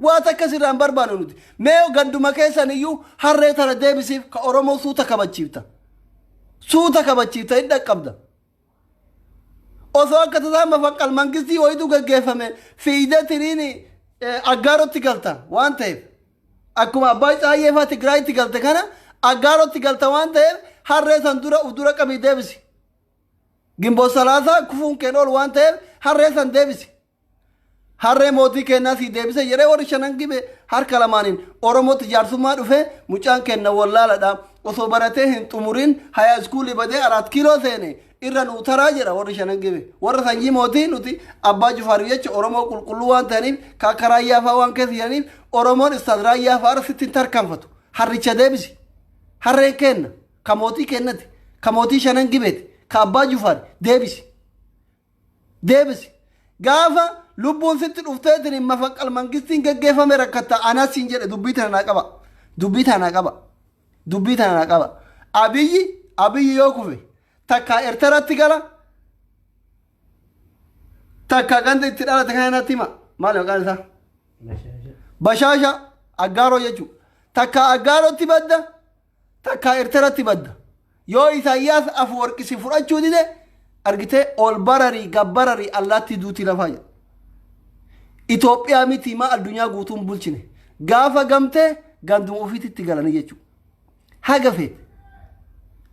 Waa takka sirraa hin barbaannu nuti. Mee yoo ganduma keessan iyyuu harree tana deebisiif ka Oromoo suuta kabachiifta. Suuta kabachiifta hin dhaqqabda. Osoo akka tasaa mafaqqal mangistii wayitu gaggeeffame fiigdee tiriin eh, aggaarotti galta waan ta'eef. Akkuma Abbaay Tsaayyee fa'aa Tigraayitti galte kana aggaarotti galta waan ta'eef harree san dura uf dura qabii deebisi. Gimboo salaasaa kufuun keen ol waan ta'eef harree san deebisi. Harree mootii keennaa sii deebise jedhee warri shanan gibe harka lamaaniin Oromootti jaarsummaa dhufee mucaan keenna wallaaladha osoo baratee hin xumuriin hayaa iskuulii badee araat kiiloo seene irra nuu taraa jedha warri shanan gibe warra sanyii mootii nuti abbaa jufaariif jecha Oromoo qulqulluu waan ta'aniif ka akka raayyaa fa'aa waan keessa jiraniif Oromoon istaad raayyaa fa'aarra sitti hin tarkaanfatu harricha deebisi harreen keenna ka mootii keennati ka mootii shanan gibeeti ka abbaa jufaari deebisi deebisi. Gaafa lubbuun sitti dhufteetiin mafaqqal mangistiin geggeeffame rakkatta anas siin jedhe dubbii tana naa qaba. Dubbii tana naa qaba. Dubbii tana naa qaba. Abiyyi Abiyyi yoo kufe takkaa Ertaratti gala takka ganda itti dhalate kana natti hima. Maali maqaan isaa? Bashaasha Aggaaroo jechuudha. Takka Aggaarotti badda takkaa Erteratti badda. Yoo Isaayyaas Afuwarqi si fudhachuu dide argitee ol bararii gab bararii allaattii duutii lafaa jedha. Itoophiyaa miti maa addunyaa guutuun bulchine. Gaafa gamtee ganduma ofiititti galanii jechuudha. Haga feete.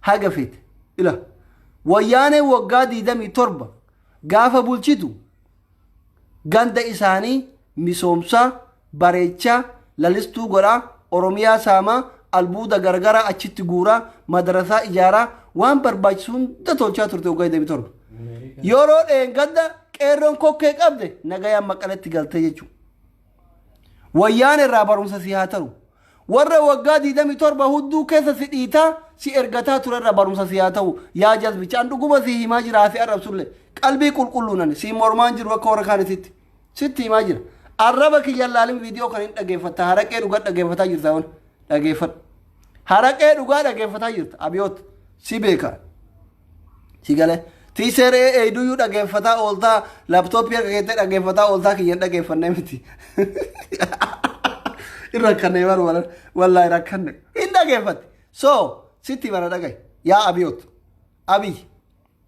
Haga feete. Ila. Wayyaanee waggaa 27 gaafa bulchitu Ganda isaanii misoomsaa, bareechaa, lalistuu godhaa, Oromiyaa saamaa, albuuda garagaraa achitti guuraa, madarasaa ijaaraa, waan barbaachisu hunda tolchaa turte waggaa 27. Yeroo dheengadda qeerroon kokkee qabde nagayaan Maqaletti galte jechuudha. Wayyaan irraa barumsa si haa ta'u. Warra waggaa 27 hudduu keessa si dhiitaa si ergataa ture irraa barumsa si haa ta'u. Yaa jazbicha an dhuguma si himaa jira haasi arrabsulle. Qalbii qulqulluunan si mormaan jiru akka warra kaanititti. Sitti himaa jira. Arraba kiyya laalin viidiyoo kan hin dhageeffatta haraqee dhugaa dhageeffataa jirta wan dhageeffadhu. Haraqee dhugaa dhageeffataa jirta abiyoot si beekaa. Si galee. Tiiseer ee eeyduyyuu dhageeffataa ooltaa laaptooppii akka keettee dhageeffataa ooltaa kiyya hin dhageeffannee miti. Hin rakkanne bar wala wallaahi rakkanne. Hin dhageeffatte. So sitti mana dhagahi. Yaa abiyoot. Abiy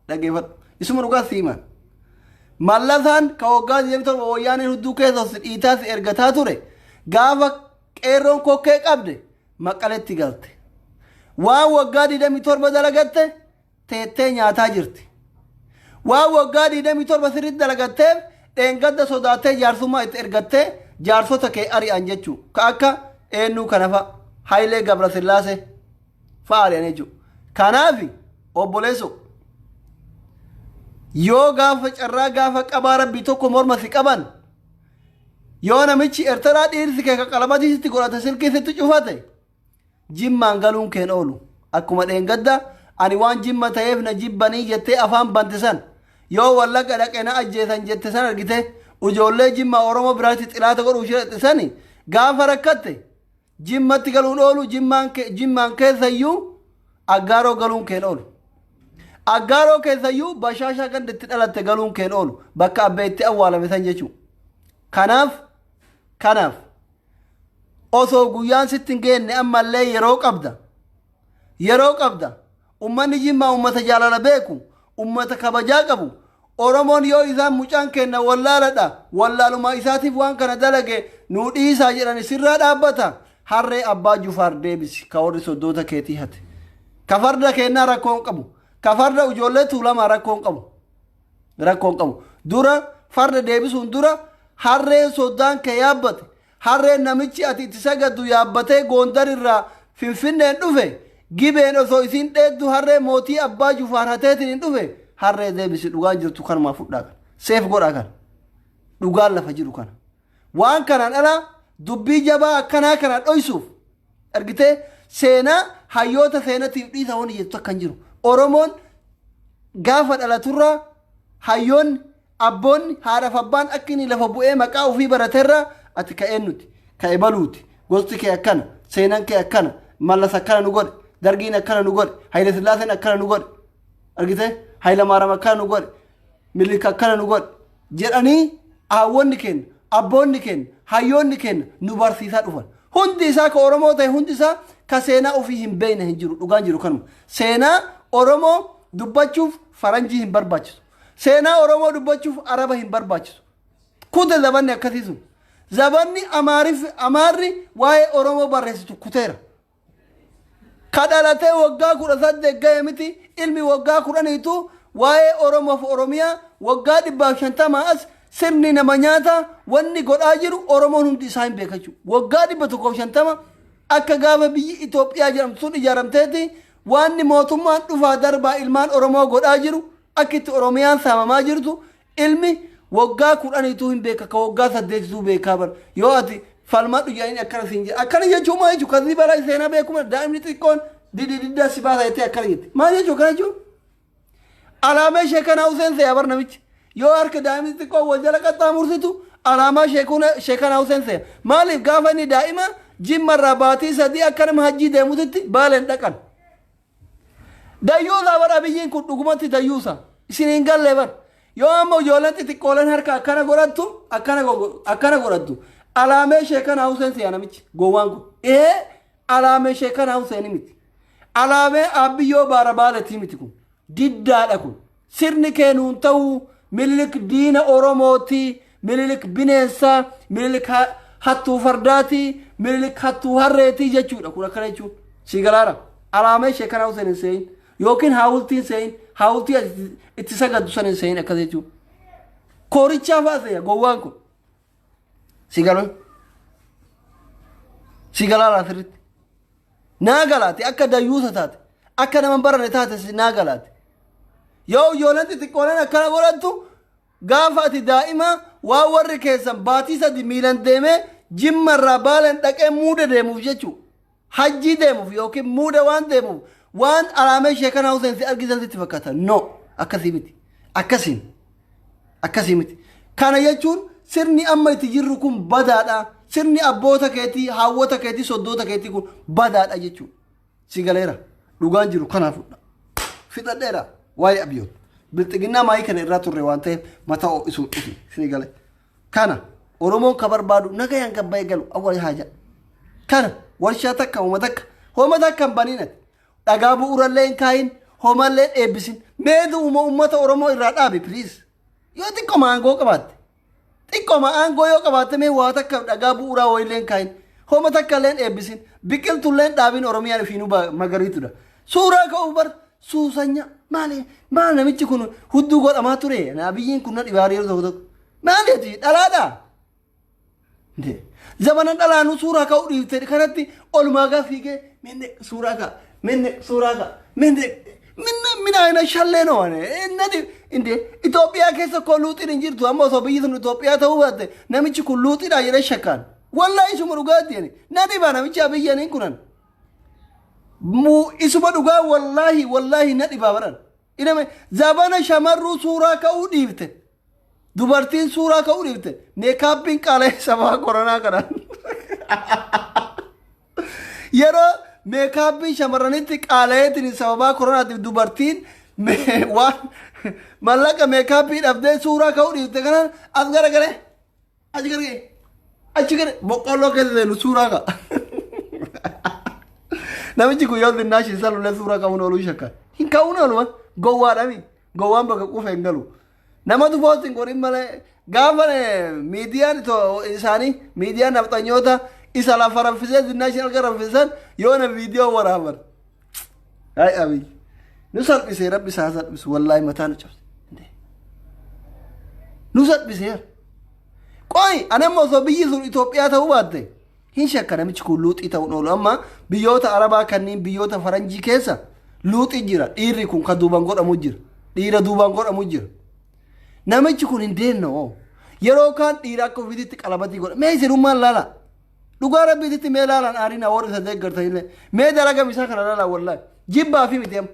dhageeffadhu. Isuma dhugaa si himan. Mallasaan ka waggaa 27 wayyaaneen hudduu keessas dhiitaas ergataa ture gaafa qeerroon kokkee qabde Maqaletti galte. Waan waggaa 27 dalagatte teettee nyaataa jirti. Waan waggaa 27 sirriitti dalagatteef dheengadda sodaattee jaarsummaa itti ergattee jaarsota kee ari'an jechuu ka akka eennuu kana fa'a Hayilee Gabrasillaasee fa'a ari'an jechuu. Kanaaf obboleessoo yoo gaafa carraa gaafa qabaa rabbii tokko morma si qaban Yoo namichi Ertaraa dhiirsi kee ka qalamatii sitti godhate silkii sitti cufate jimmaan galuun keen oolu. Akkuma dheengadda ani waan jimma ta'eef na jibbanii jettee afaan bante san yoo wallaga dhaqe na ajjeesan jette san argite ujoollee jimmaa Oromoo biraatti xilaata godhuuf shiraxxe sani gaafa rakkatte Jimmatti galuun oolu jimmaan ke- jimmaan keessayyuu aggaaroo galuun keen oolu. Aggaaroo keessayyuu bashaashaa ganda itti dhalatte galuun keen oolu bakka abbee itti awwaalame san jechuu. Kanaaf kanaaf osoo guyyaan sitti hin geenne ammallee yeroo qabda yeroo qabda Ummanni Jimmaa ummata jaalala beeku, ummata kabajaa qabu. Oromoon yoo isaan mucaan keenna wallaaladha, wallaaluma isaatiif waan kana dalage nuu dhiisaa jedhani sirraa dhaabbata. Harree Abbaa Jufaar deebisi ka warri soddoota keetii hate. Ka farda keennaa rakkoo hin qabu. Ka farda ijoollee Tuulamaa rakkoo hin qabu. Rakkoo hin qabu. Dura farda deebisuun dura harreen soddaan kee yaabbate, Harreen namichi ati itti sagaddu yaabbatee Goondar irraa Finfinneen dhufe, Gibeen osoo isiin dheeddu harree mootii Abbaa Jufaar hateetiniin dhufe, harree deebisi dhugaan jirtu kanumaa fudhaa kana. Seef godhaa kana. Dhugaan lafa jiru kana. Waan kanaan ala dubbii jabaa akkanaa kana dhoysuuf argitee seenaa hayyoota seenatiif dhiisa wani jettu takka hin jiru. Oromoon gaafa dhalaturraa hayyoonni Abboonni, haadhaaf abbaan akka inni lafa bu'ee maqaa ufii barate irraa ati ka eennuti? Ka ebaluuti. Gosti kee akkana. Seenan kee akkana. Mallas akkana nu godhe. Dargiin akkana nu godhe. Hayila Sillaaseen akkana nu godhe. Argitee? Hayila Maaram akkana nu godhe. Mililik akkana nu godhe. Jedhanii haawwonni keenya, abboonni keenya, hayyoonni keenya nu barsiisaa dhufan. Hundi isaa ka Oromoo ta'e hundi isaa ka seenaa ofii hin beekne hin jiru. Dhugaan jiru kanuma. Seenaa Oromoo dubbachuuf faranjii hin barbaachisu. Seenaa Oromoo dubbachuuf Araba hin barbaachisu. Kute zabanni akkasii sun. Zabanni Amaariffi Amaarri waa'ee Oromoo barreessitu kuteera. Ka dhalatee waggaa kudha saddeet ga'e miti ilmi waggaa kudhaniitu waa'ee Oromoof Oromiyaa waggaa dhibbaaf shantamaa as sirni nama nyaata wanni godhaa jiru Oromoon hundi isaa hin beekachuu. Waggaa dhibba tokkoof shantama akka gaafa biyyi Itoophiyaa jedhamtu sun ijaaramteeti Waanni mootummaan dhufaa darbaa ilmaan Oromoo godhaa jiru, akka itti Oromiyaan saamamaa jirtu, ilmi woggaa kudhaniituu hin beeka, ka woggaa saddeetituu beekaa bar. Yoo ati falmadhu jedhanii akkana siin jedha. Akkana jechuun maal jechuudha? Kazii balaa seenaa beeku mala daa'imni xiqqoon didididdaa si baasa jettee akkana jette. Maal jechuudha akkana jechuun? Alaamee sheekanaa Huseen see'a bar namichi. Yoo harka daa'imni xiqqoo wal jala qaxxaamursitu alaamaa sheekuna- sheekanaa Huseen see'a. Maaliif gaafa inni daa'ima jimmarraa baatii sadii akka nama hajjii deemutitti baaleen dhaqan. Dayyuusaa bar abiyyiin kun dhugumatti dayyuusa. Isin hin galle bar. Yoo amma ijoolleen xixiqqooleen harka akkana godhattu akkana gogo- akkana godhattu. Alaamee sheekanaa Huseen see'a namichi gowwaan kun. Ee Alaamee Sheekanaa Huseen miti. Alaamee Aabbiyyoo Baara Baaletii miti kun. Diddaadha kun. Sirni kee nuun ta'uu Minilik diina Oromooti, Minilik bineensa, Minilik ha- hattuu fardaati, Minilik hattuu harreeti jechuudha kun akkana jechuun. Sii galaara. Alaamee Sheekanaa Huseen hin seeyin. Yookiin haawultiin seeyin. Haawultii ati itti sagaddu san hin seeyin akkas jechuun. Koorichaa fa'aa seeya gowwaan kun. Si galoo? Si galaa laa sirriitti? Naa galaati akka dayyuusa taate akka nama hin barane taate si naa galaati. Yoo ijoolleen xixiqqooleen akkana godhattu gaafa ati daa'ima waan warri keessan baatii sadi miilan deemee jimma irraa baaleen dhaqee muuda deemuuf jechuudha. Hajjii deemuuf yookiin muuda waan deemuuf waan alaamee sheekanaa Huseen si argisan sitti fakkaata. No! Akkasii miti. Akkasiin. Akkasii miti. Kana jechuun sirni amma itti jirru kun badaadha. Sirni abboota keetii, haawwota keetii, soddoota keetii kun badaadha jechuudha. Si galeera. Dhugaan jiru kanaa fudha. Fixadheera. Waa'ee abiyyoon. Bilxiginnaa maayii kana irraa turre waan ta'eef mataa ho'isuun dhufi. Sini galee. Kana Oromoon ka barbaadu nagayaan gabbayee galu awwal haaja. Kana warshaa takka homa takka homa takka hin baniin ati. Dhagaa bu'uurallee hin kaayin homallee hin eebbisin. Mee du'uma uummata Oromoo irraa dhaabi please. Yoo xiqqoma aangoo qabaatte. Xiqqoma aangoo yoo qabaatte mee waa takka dhagaa bu'uuraa wayiillee hin kaayin. Homa takka illee hin eebbisin. Biqiltullee hin dhaabin Oromiyaan ofiinuu ba- magariitudha. Suuraa ka'uu bar Suusanya maali maal namichi kun hudduu godhamaa ture abiyyiin kun na dhibaa yeroo tokko tokko maali ati dhalaadha. Zamana dhalaanu suuraa ka'uu dhiifte kanatti olumaa gaa fiigee minne suuraa ka'a minne suuraa ka'a minne minne mina ina shallee no ane innati inde Itoophiyaa keessa koo luuxiin hin jirtu amma osoo biyyi sun Itoophiyaa ta'uu baatte namichi kun luuxiidha jedhee shakkaan. Wallahi isuma dhugaatti ani na dhibaa namichi abiyyiin kunan Muu isuma dhugaa wallaahi wallaahi na dhibaa baran. Iname zabana shamarruu suuraa ka'uu dhiifte. Dubartiin suuraa ka'uu dhiifte. Meekaappiin qaala'ee sabaa koronaa kanaan. Yeroo meekaappiin shamarranitti qaala'eetiin sababaa koronaatiif dubartiin me- waan mallaqa meekaappii dhabdee suuraa ka'uu dhiifte kanaan as garagalee. Achi gara kee. Achi gara boqqolloo keessa seenu suuraa ka'a. Namichi kun yoo xinnaa ishee salullee suuraa ka'uun ooluu shakka. Hin ka'uun ooluma. Gowwaadhami. Gowwaan bakka quufe hin galu. Namatu poostiin godhin malee gaafa eh, miidiyaan to- isaanii miidiyaan nafxanyoota isa lafa raffisee xinnaa ishee alga raffisan yoo na viidiyoo waraaban. Ay abiy. Nu salphisee rabbi isaa salphisu wallaahi mataa nu cabse. Indee. Nu salphisee. Qoy anamma osoo biyyi sun Itoophiyaa ta'uu baatte hin shakka namichi kun luuxii ta'uun oolu amma biyyoota Arabaa kanneen biyyoota Faranjii keessa luuxii jira dhiirri kun kan duubaan godhamu jira dhiira duubaan godhamu jira. Namichi kun hin deemne hoo yeroo kaan dhiira akka ofiitti qalabatii godha mee isinummaan laala. Dhugaa rabbiititti mee laalaan aariin warri isa deeggartan illee mee dalaga isaa kana laalaa wallahi jibbaa fi miti amma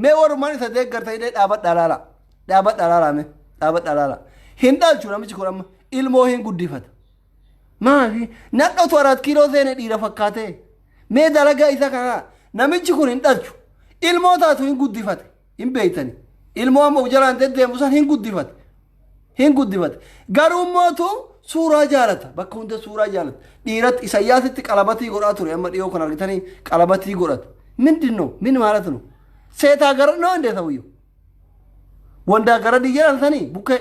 mee warrumaan isa deeggartan illee dhaabadhaa laalaa dhaabadhaa laalaa mee dhaabadhaa laalaa hin dhaalchu namichi kun amma ilmoo hin guddifata maafi nadhotu araat kiiloo seene dhiira fakkaatee mee dalagaa isa kana laalaa namichi kun hin dhaalchu ilmoo taatu hin guddifate hin beeytani ilmoo amma uf jalaan deddeemu san hin guddifate hin guddifate garuu mootu suuraa jaalata bakka hunda suuraa jaalata dhiiratti isayyaasitti qalabatii godhaa ture amma dhiyoo kan argitanii qalabatii godhate mindin no min maalat no seetaa gara no indee ta'uyyo wandaa gara diyyaan sanii bukkee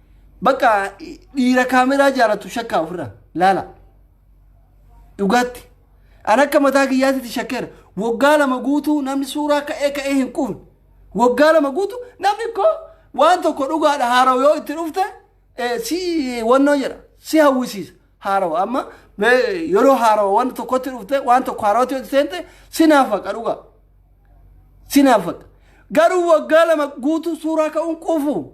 Bakka dhiira kaameraa jaalatu shakkaa ofirraa laala. Dhugaatti. An akka mataa kiyyaatitti shakkeera. Waggaa lama guutuu namni suuraa ka'ee ka'ee hin quufne. Waggaa lama guutuu namni koo waan tokko dhugaadha haarawa yoo itti dhufte eh, si wannoo jedha si hawwisiisa haarawa amma eh, yeroo haarawa waan tokkotti dhufte waan tokko haarawatti yoo itti seente si naafaqa dhugaa. sinaafadha garuu waggaa lama guutuu suuraa ka'uun quufu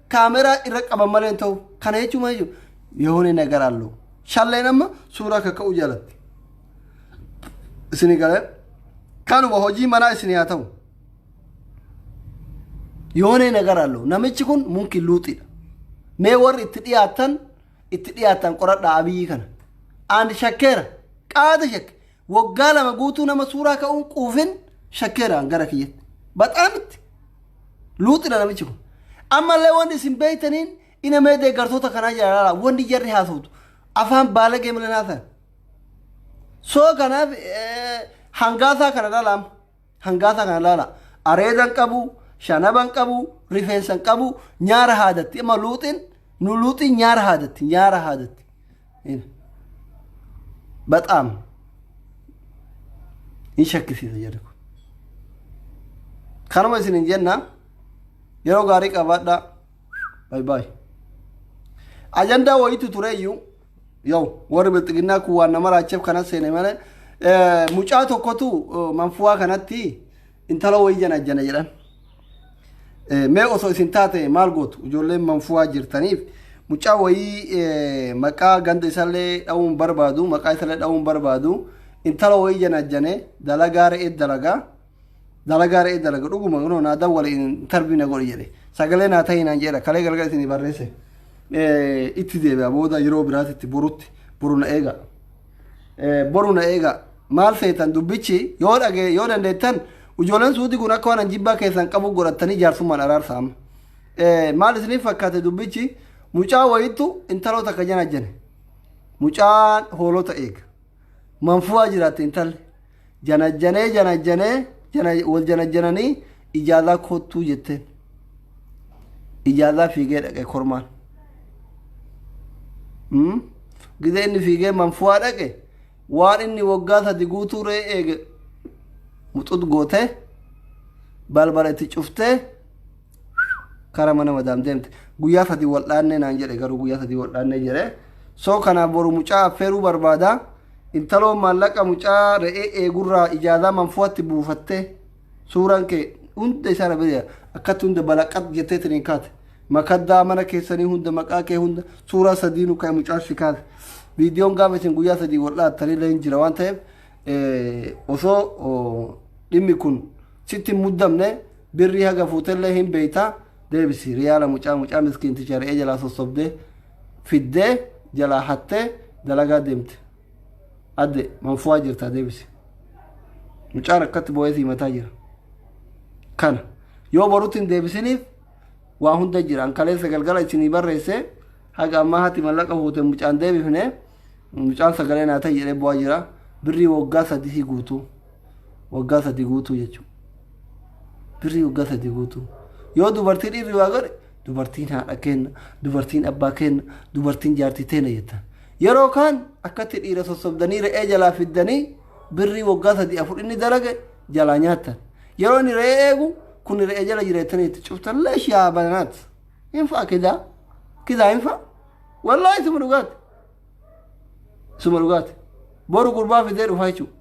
kaameraa irra qaban malee hin ta'u. Kana jechuun maal jechuudha? Yoone nagar allo. Shalleen amma suuraa akka ka'uu jaalatti. Isin galee kanuma hojii manaa isin haa ta'u. Yoone nagar allo. Namichi kun munki luuxidha. Mee warri itti dhiyaatan itti dhiyaatan qoradhaa abiyyi kana. Aan shakkeera. Qaada shakke. Waggaa lama guutuu nama suuraa ka'uun quufin shakkeeraan gara kiyyatti. Baxaamitti. Luuxina namichi kun. Ammallee wanti isin beektaniin ina mee deeggartoota kanaa jaalala wanti jarri haasoftu afaan baalagee malee naasan. Soo kanaaf hangaasaa kana dhalaama. Hangaasaa kana laala. Areeda hin qabu, shanaba hin qabu, rifeensa hin qabu, nyaara haadatti. Amma luuxiin nu luuxiin nyaara haadatti, nyaara haadatti. Baxaam. Hin shakkisiisa jedhu. Kanuma isin hin jenna. Yeroo gaarii qabaadhaa. Baay baay. Ajandaa wayiitu tureyyuu. Yoo warri bilxiginnaa kun waan nama raacheef kana seene malee mucaa tokkotu manfuwaa kanatti intala wayii janajjana jedhan. Mee osoo isin taate maal gootu ijoolleen manfuwaa jirtaniif mucaa wayii maqaa ganda isallee dha'uun barbaadu maqaa isallee dha'uun barbaadu intala wayii janajjane dalagaa re'ee dalagaa. Dalagaa re'ee dalaga dhuguma kunoo naa dawwale intarvii na godhi jedhe sagalee naa ta'ii naan jedha kalee galgala isinii barreesse Eh, itti deebi'a booda yeroo biraatitti borutti boru na eega Eh, boru na eega maal feetan dubbichi yoo dhage yoo dandeettan ijoolleen suuti kun akka waan an jibbaa keessan qabu godhattanii jaarsummaan araarsa amma Eh, maal isiniif fakkaate dubbichi mucaa wayittu intaloo takka jana jene mucaan hoolota eega manfuwaa jiraatte intalli Janajjanee janajjanee jana, wal janajjananii ijaazaa koottuu jetteen. Ijaazaa fiigee dhaqe kormaan. Hmm? Gizee inni fiigee manfuwaa dhaqe waan inni waggaa sadi guutuu ree eege muxut gootee balbala itti cuftee kara mana madaam deemte guyyaa sadii wal dhaannee naan jedhe garuu guyyaa sadii wal dhaannee jedhe soo kanaa boru mucaa affeeruu barbaada intaloo maallaqa mucaa re'ee eegurraa ijaazaa manfuwatti buufatte suuraan kee hunda isaa dhabee akkatti hunda balaqat jettee tiniin kaate makaddaa mana keessanii hunda maqaa kee hunda suuraa sadii nu ka'e mucaa si kaate viidiyoon gaafa isin guyyaa sadii wal dhaattanii illee hin jira waan ta'eef osoo dhimmi kun Sitti hin muddamne birrii haga fuutellee hin beeyta deebisi riyaala mucaa mucaa miskiinticha re'ee jalaa sossobde fiddee jalaa hattee dalagaa deemte adde manfuwaa jirtaa deebisi mucaan akkatti boo'ee sii mataa jira kana yoo borutti hin deebisiniif waa hunda jira an kaleessa galgala isinii barreesse haga ammaa hati mallaqa fuute mucaan deebifne mucaan sagalee naa ta'e jedhee bu'aa jira birrii waggaa sadii guutuu waggaa sadi guutuu jechuudha. Birrii waggaa sadi guutuu. Yoo dubartii dhiirri waa godhe dubartiin haadha kenna, dubartiin abbaa kenna, dubartiin jaartii teena jettan. Yeroo kaan akkatti dhiira sossobdanii re'ee jalaa fiddanii birrii waggaa sadi afur inni dalage jalaa nyaattan. Yeroo inni re'ee eegu kun re'ee jala jira jettanii itti cuftan leesh yaa bananaat. Hin fa'a kidaa. Kidaa hin fa'a. Wallaahi suma dhugaati. Suma dhugaati. Boru gurbaa fidee dhufaa jechuudha.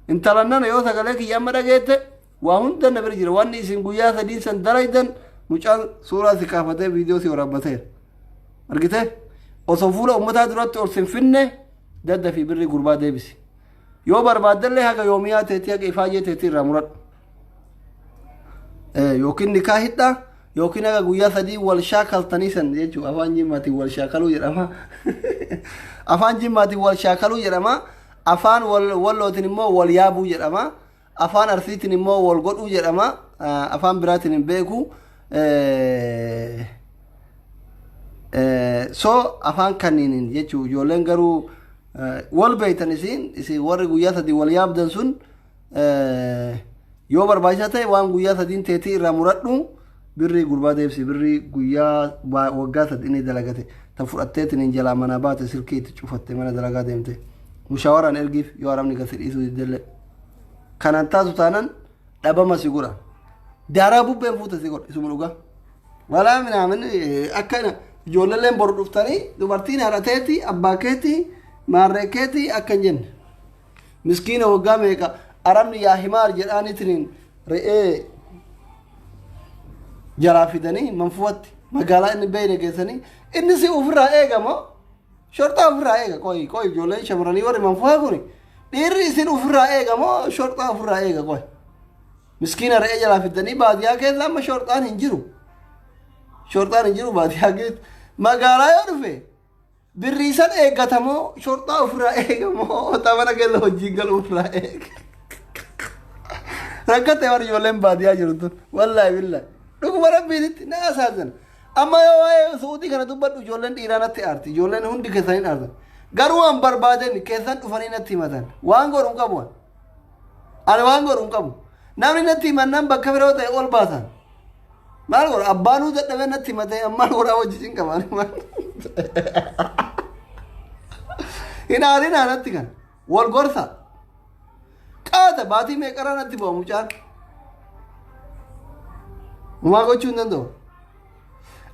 Intalan nana yoo sagalee kiyya amma dhageette waa hunda na bira jira. Wanni isin guyyaa sadiin san dalaydan mucaan suuraa si kaafatee viidiyoo si waraabbateera. Argitee? Osoo fuula ummataa duratti ol sin finne dadda fi birrii gurbaa deebisi. Yoo barbaaddellee haga yoomiyaa teetii haga ifaajee teetii irraa muradhu. yookiin nikaa hidhaa yookiin haga guyyaa sadii wal shaakaltanii san jechuun afaan jimmaatiin wal shaakaluu jedhama. afaan jimmaatiin wal shaakaluu jedhama. afaan wallootiin immoo wal yaabuu jedhama. afaan arsiitiin immoo wal godhuu jedhama. afaan biraatiin hin beeku. so afaan kanniiniin jechuun ijoolleen garuu wal beektan isin isin warri guyyaa sadii wal yaabdan sun Yoo barbaachisaa ta'e waan guyyaa sadiin teetii irraa muradhu birrii gurbaa deebisi birrii guyyaa waggaa sadii inni dalagate tan fudhatteetiin hin jalaa manaa baate silkii itti cufatte mana dalagaa deemte mushaawaraan ergiif yoo arabni gasi dhiisuu diddellee kanaan taatu taanan dhabama si godha daaraa bubbeen fuute si godha isuma dhugaa walaa minaamin akka ijoolleen boru dhuftanii dubartiin haadha teetii abbaa keetii maarree keetii akka hin jenne. miskiina waggaa meeqa arabni yaa himaar jedhaanitiniin re'ee jaraa fidanii manfuwatti magaalaa inni beeyne geessanii inni si ofirraa eegama shorxaa ofirraa eega qoyi qoyi ijoolleen shamarranii warri manfuwaa kuni dhiirri isin ofirraa eegama shorxaa ofirraa eega qoyi miskiina re'ee jaraa fidanii baadiyyaa keessa amma shorxaan hin jiru shorxaan hin jiru baadiyyaa keessa magaalaa yoo dhufe Birrii san eeggata moo shorxaa ofirraa eega moo otamana keessa hojiin galu ofirraa eega. Rakkate warri ijoolleen baadiyyaa jirtu wallaahi billaahi. Dhuguma rabbiinitti na asaazan. Amma yoo waa'ee suutii kana dubbadhu ijoolleen dhiiraa natti aarti. Ijoolleen hundi keessaniin aartan. Garuu waan barbaadeen keessan dhufanii natti himatan. Waan godhu hin qabu. Ani waan godhu hin qabu. Namni natti himannaan bakka biroo ta'e ol baasan. Maal godha abbaanuu dadhabee natti himatee ammaan godhaa wajjin hin qaban. Hin haarinaa natti kan wal gorsa. Qaata baatii meeqarraa natti bu'a mucaan. Umaa gochuu hin danda'u.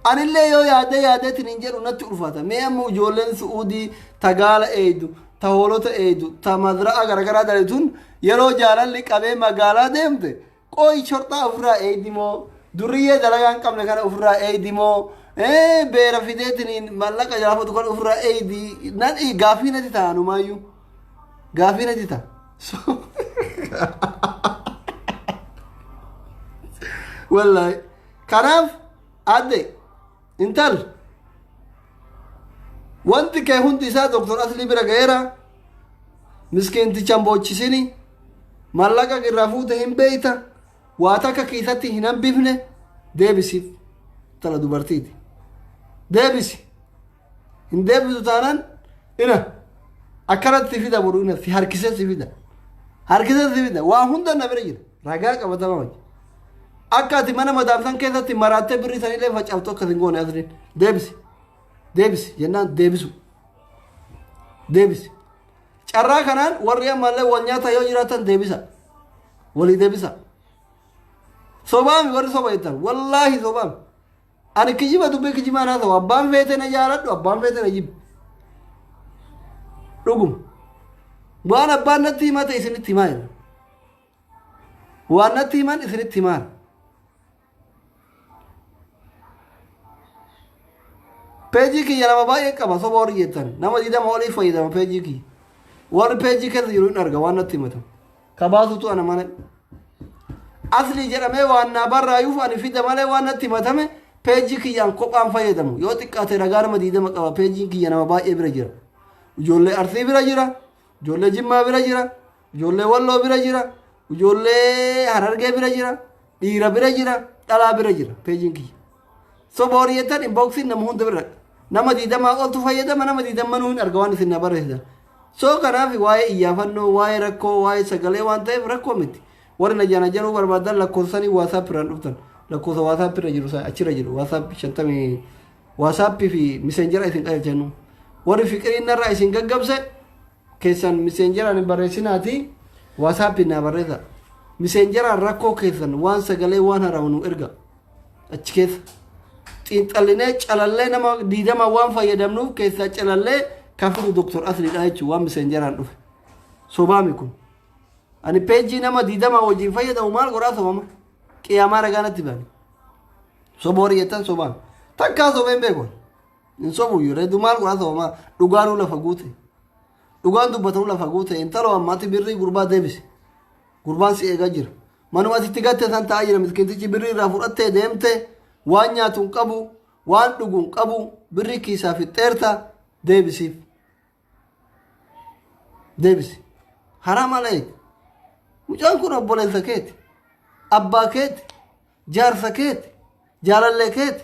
Anillee yoo yaadee yaadeetiin hin jedhu natti ulfaata. Mee amma ijoolleen Su'uudii ta gaala eeydu, ta hoolota eeydu, ta mazra'aa garagaraa dalaytuun yeroo jaalalli qabee magaalaa deemte qooyi shorxaa ofirraa eeydi moo durriyyee dalagaa hin qabne kana ofirraa eeydi moo beera fideetiin mallaqa jaafatu kana ofirraa eeydi nan gaaffii natti ta'a numaayyuu gaaffii natti ta'a. Wallaahi. Kanaaf adde intal wanti kee hundi isaa doktor aslii bira ga'eera miskiintichan boochisini mallaqa irraa fuute hin beeyta waa takka kiisatti hin hambifne deebisiif tana dubartiiti deebisi Hin deebisu taanaan ina akkanatti si fida boru ina si harkisee si fida. Harkisee si fida waa hunda na bira jira ragaa qabatamaa wajji. Akka ati mana madaamsan keessatti maraattee birrii sanillee facaaftu akka sin goone asliin deebisi. Deebisi jennaan deebisu. Deebisi. Carraa kanaan warri ammallee wal nyaata yoo jiraatan deebisa. Walii deebisa. Sobaami warri soba jettan wallaahi sobaami. Ani kijiba dubbee kijibaan haa ta'u abbaan feete na jaaladhu abbaan feete na jibbu. Dhuguma. Waan abbaan natti himate isinitti himaa jiru. Waan natti himan isinitti himaan. Peejii kiyya nama baay'ee qaba soba warri jettan nama digdama oliif fayyadama peejii kiyya. Warri peejii keessa jiru hin arga waan natti himatamu. Kabaatutu ana malee. Asli jedhamee waan naa barraayuuf ani fida malee waan natti himatame peejii kiyyaan kophaan fayyadamu. Yoo xiqqaate ragaa nama diidama qaba peejiin kiyya nama baay'ee bira jira. Ijoollee Arsii bira jira. Ijoollee Jimmaa bira jira. Ijoollee Walloo bira jira. Ijoollee Harargee bira jira. Dhiira bira jira. Dhalaa bira jira peejiin kiyya. Soba warri jettan inboxin nama hunda bira dhaqa. Nama diidamaa oltu fayyadama nama diidammanuu hin arga waan isin na barreessitan. Soo kanaaf waa'ee iyyaafannoo, waa'ee rakkoo, waa'ee sagalee waan ta'eef rakkoo miti. Warri na jana jaruu barbaadan lakkoofsanii WhatsApp irraan dhuftan. Lakkoofsa WhatsApp irra jiru sana achirra jiru. WhatsApp shantamii WhatsApp fi messenger isin qajeelchannu. Warri fiqiriin narraa isin gaggabse keessan messengeraan hin barreessinaatii WhatsApp naa barreessa. Messengeraan rakkoo keessan waan sagalee waan haramu nu erga. achi keessa xiinxallinee calallee nama diidama waan fayyadamnuuf keessaa calallee kan fidu doktor asliidha jechuun waan miseenjaraan dhufe sobaami kun ani peejii nama diidama wajjin fayyadamu maal godhaa sobama qiyaamaa ragaa natti bane soba warri jettan sobaan takkaa sobeen beeku hin sobuyyuu reedu maal godhaa sobama dhugaanuu lafa guute dhugaan dubbatamu lafa guute intaloo ammaatti birrii gurbaa deebise gurbaan si eegaa jira Manuma ati itti gatte san taa'aa jira miskiintichi birrii irraa fudhattee deemte waan nyaatu hin qabu waan dhugu hin qabu birrii kiisaa fixxeerta deebisiif. Deebisi. Haraa maal eegi? Mucaan kun obboleessa keeti. Abbaa keeti. Jaarsa keeti. Jaalallee keeti.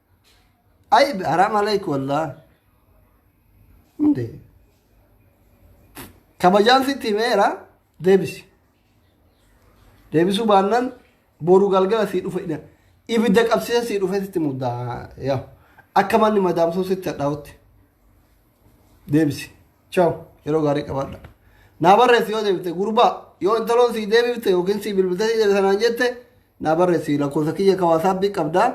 Ay haram aleyk wallah. Hunde. Kabajaan sitti himeera deebisi. Deebisuu baannan boru galgala sii dhufa ina. Ibidda qabsiisa sii dhufe sitti muddaa. Yaa. Akka manni madaamsuu sitti hadhaa'utti. Deebisi. Ciao. Yeroo gaarii qabaadha. Naa barreessi yoo deebite gurbaa yoo intaloon sii deebifte yookiin sii bilbiltee sii deebite sanaan jette naa barreessi lakkoofsa kiyya kawaasaabbii qabdaa.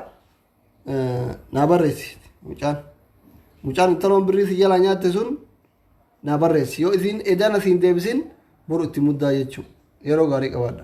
naa barreessi mucaan mucaan intaloon birrii si jalaa nyaatte sun naa barreessi yoo isiin edana siin deebisin boru itti muddaa jechuu yeroo gaarii qabaadha.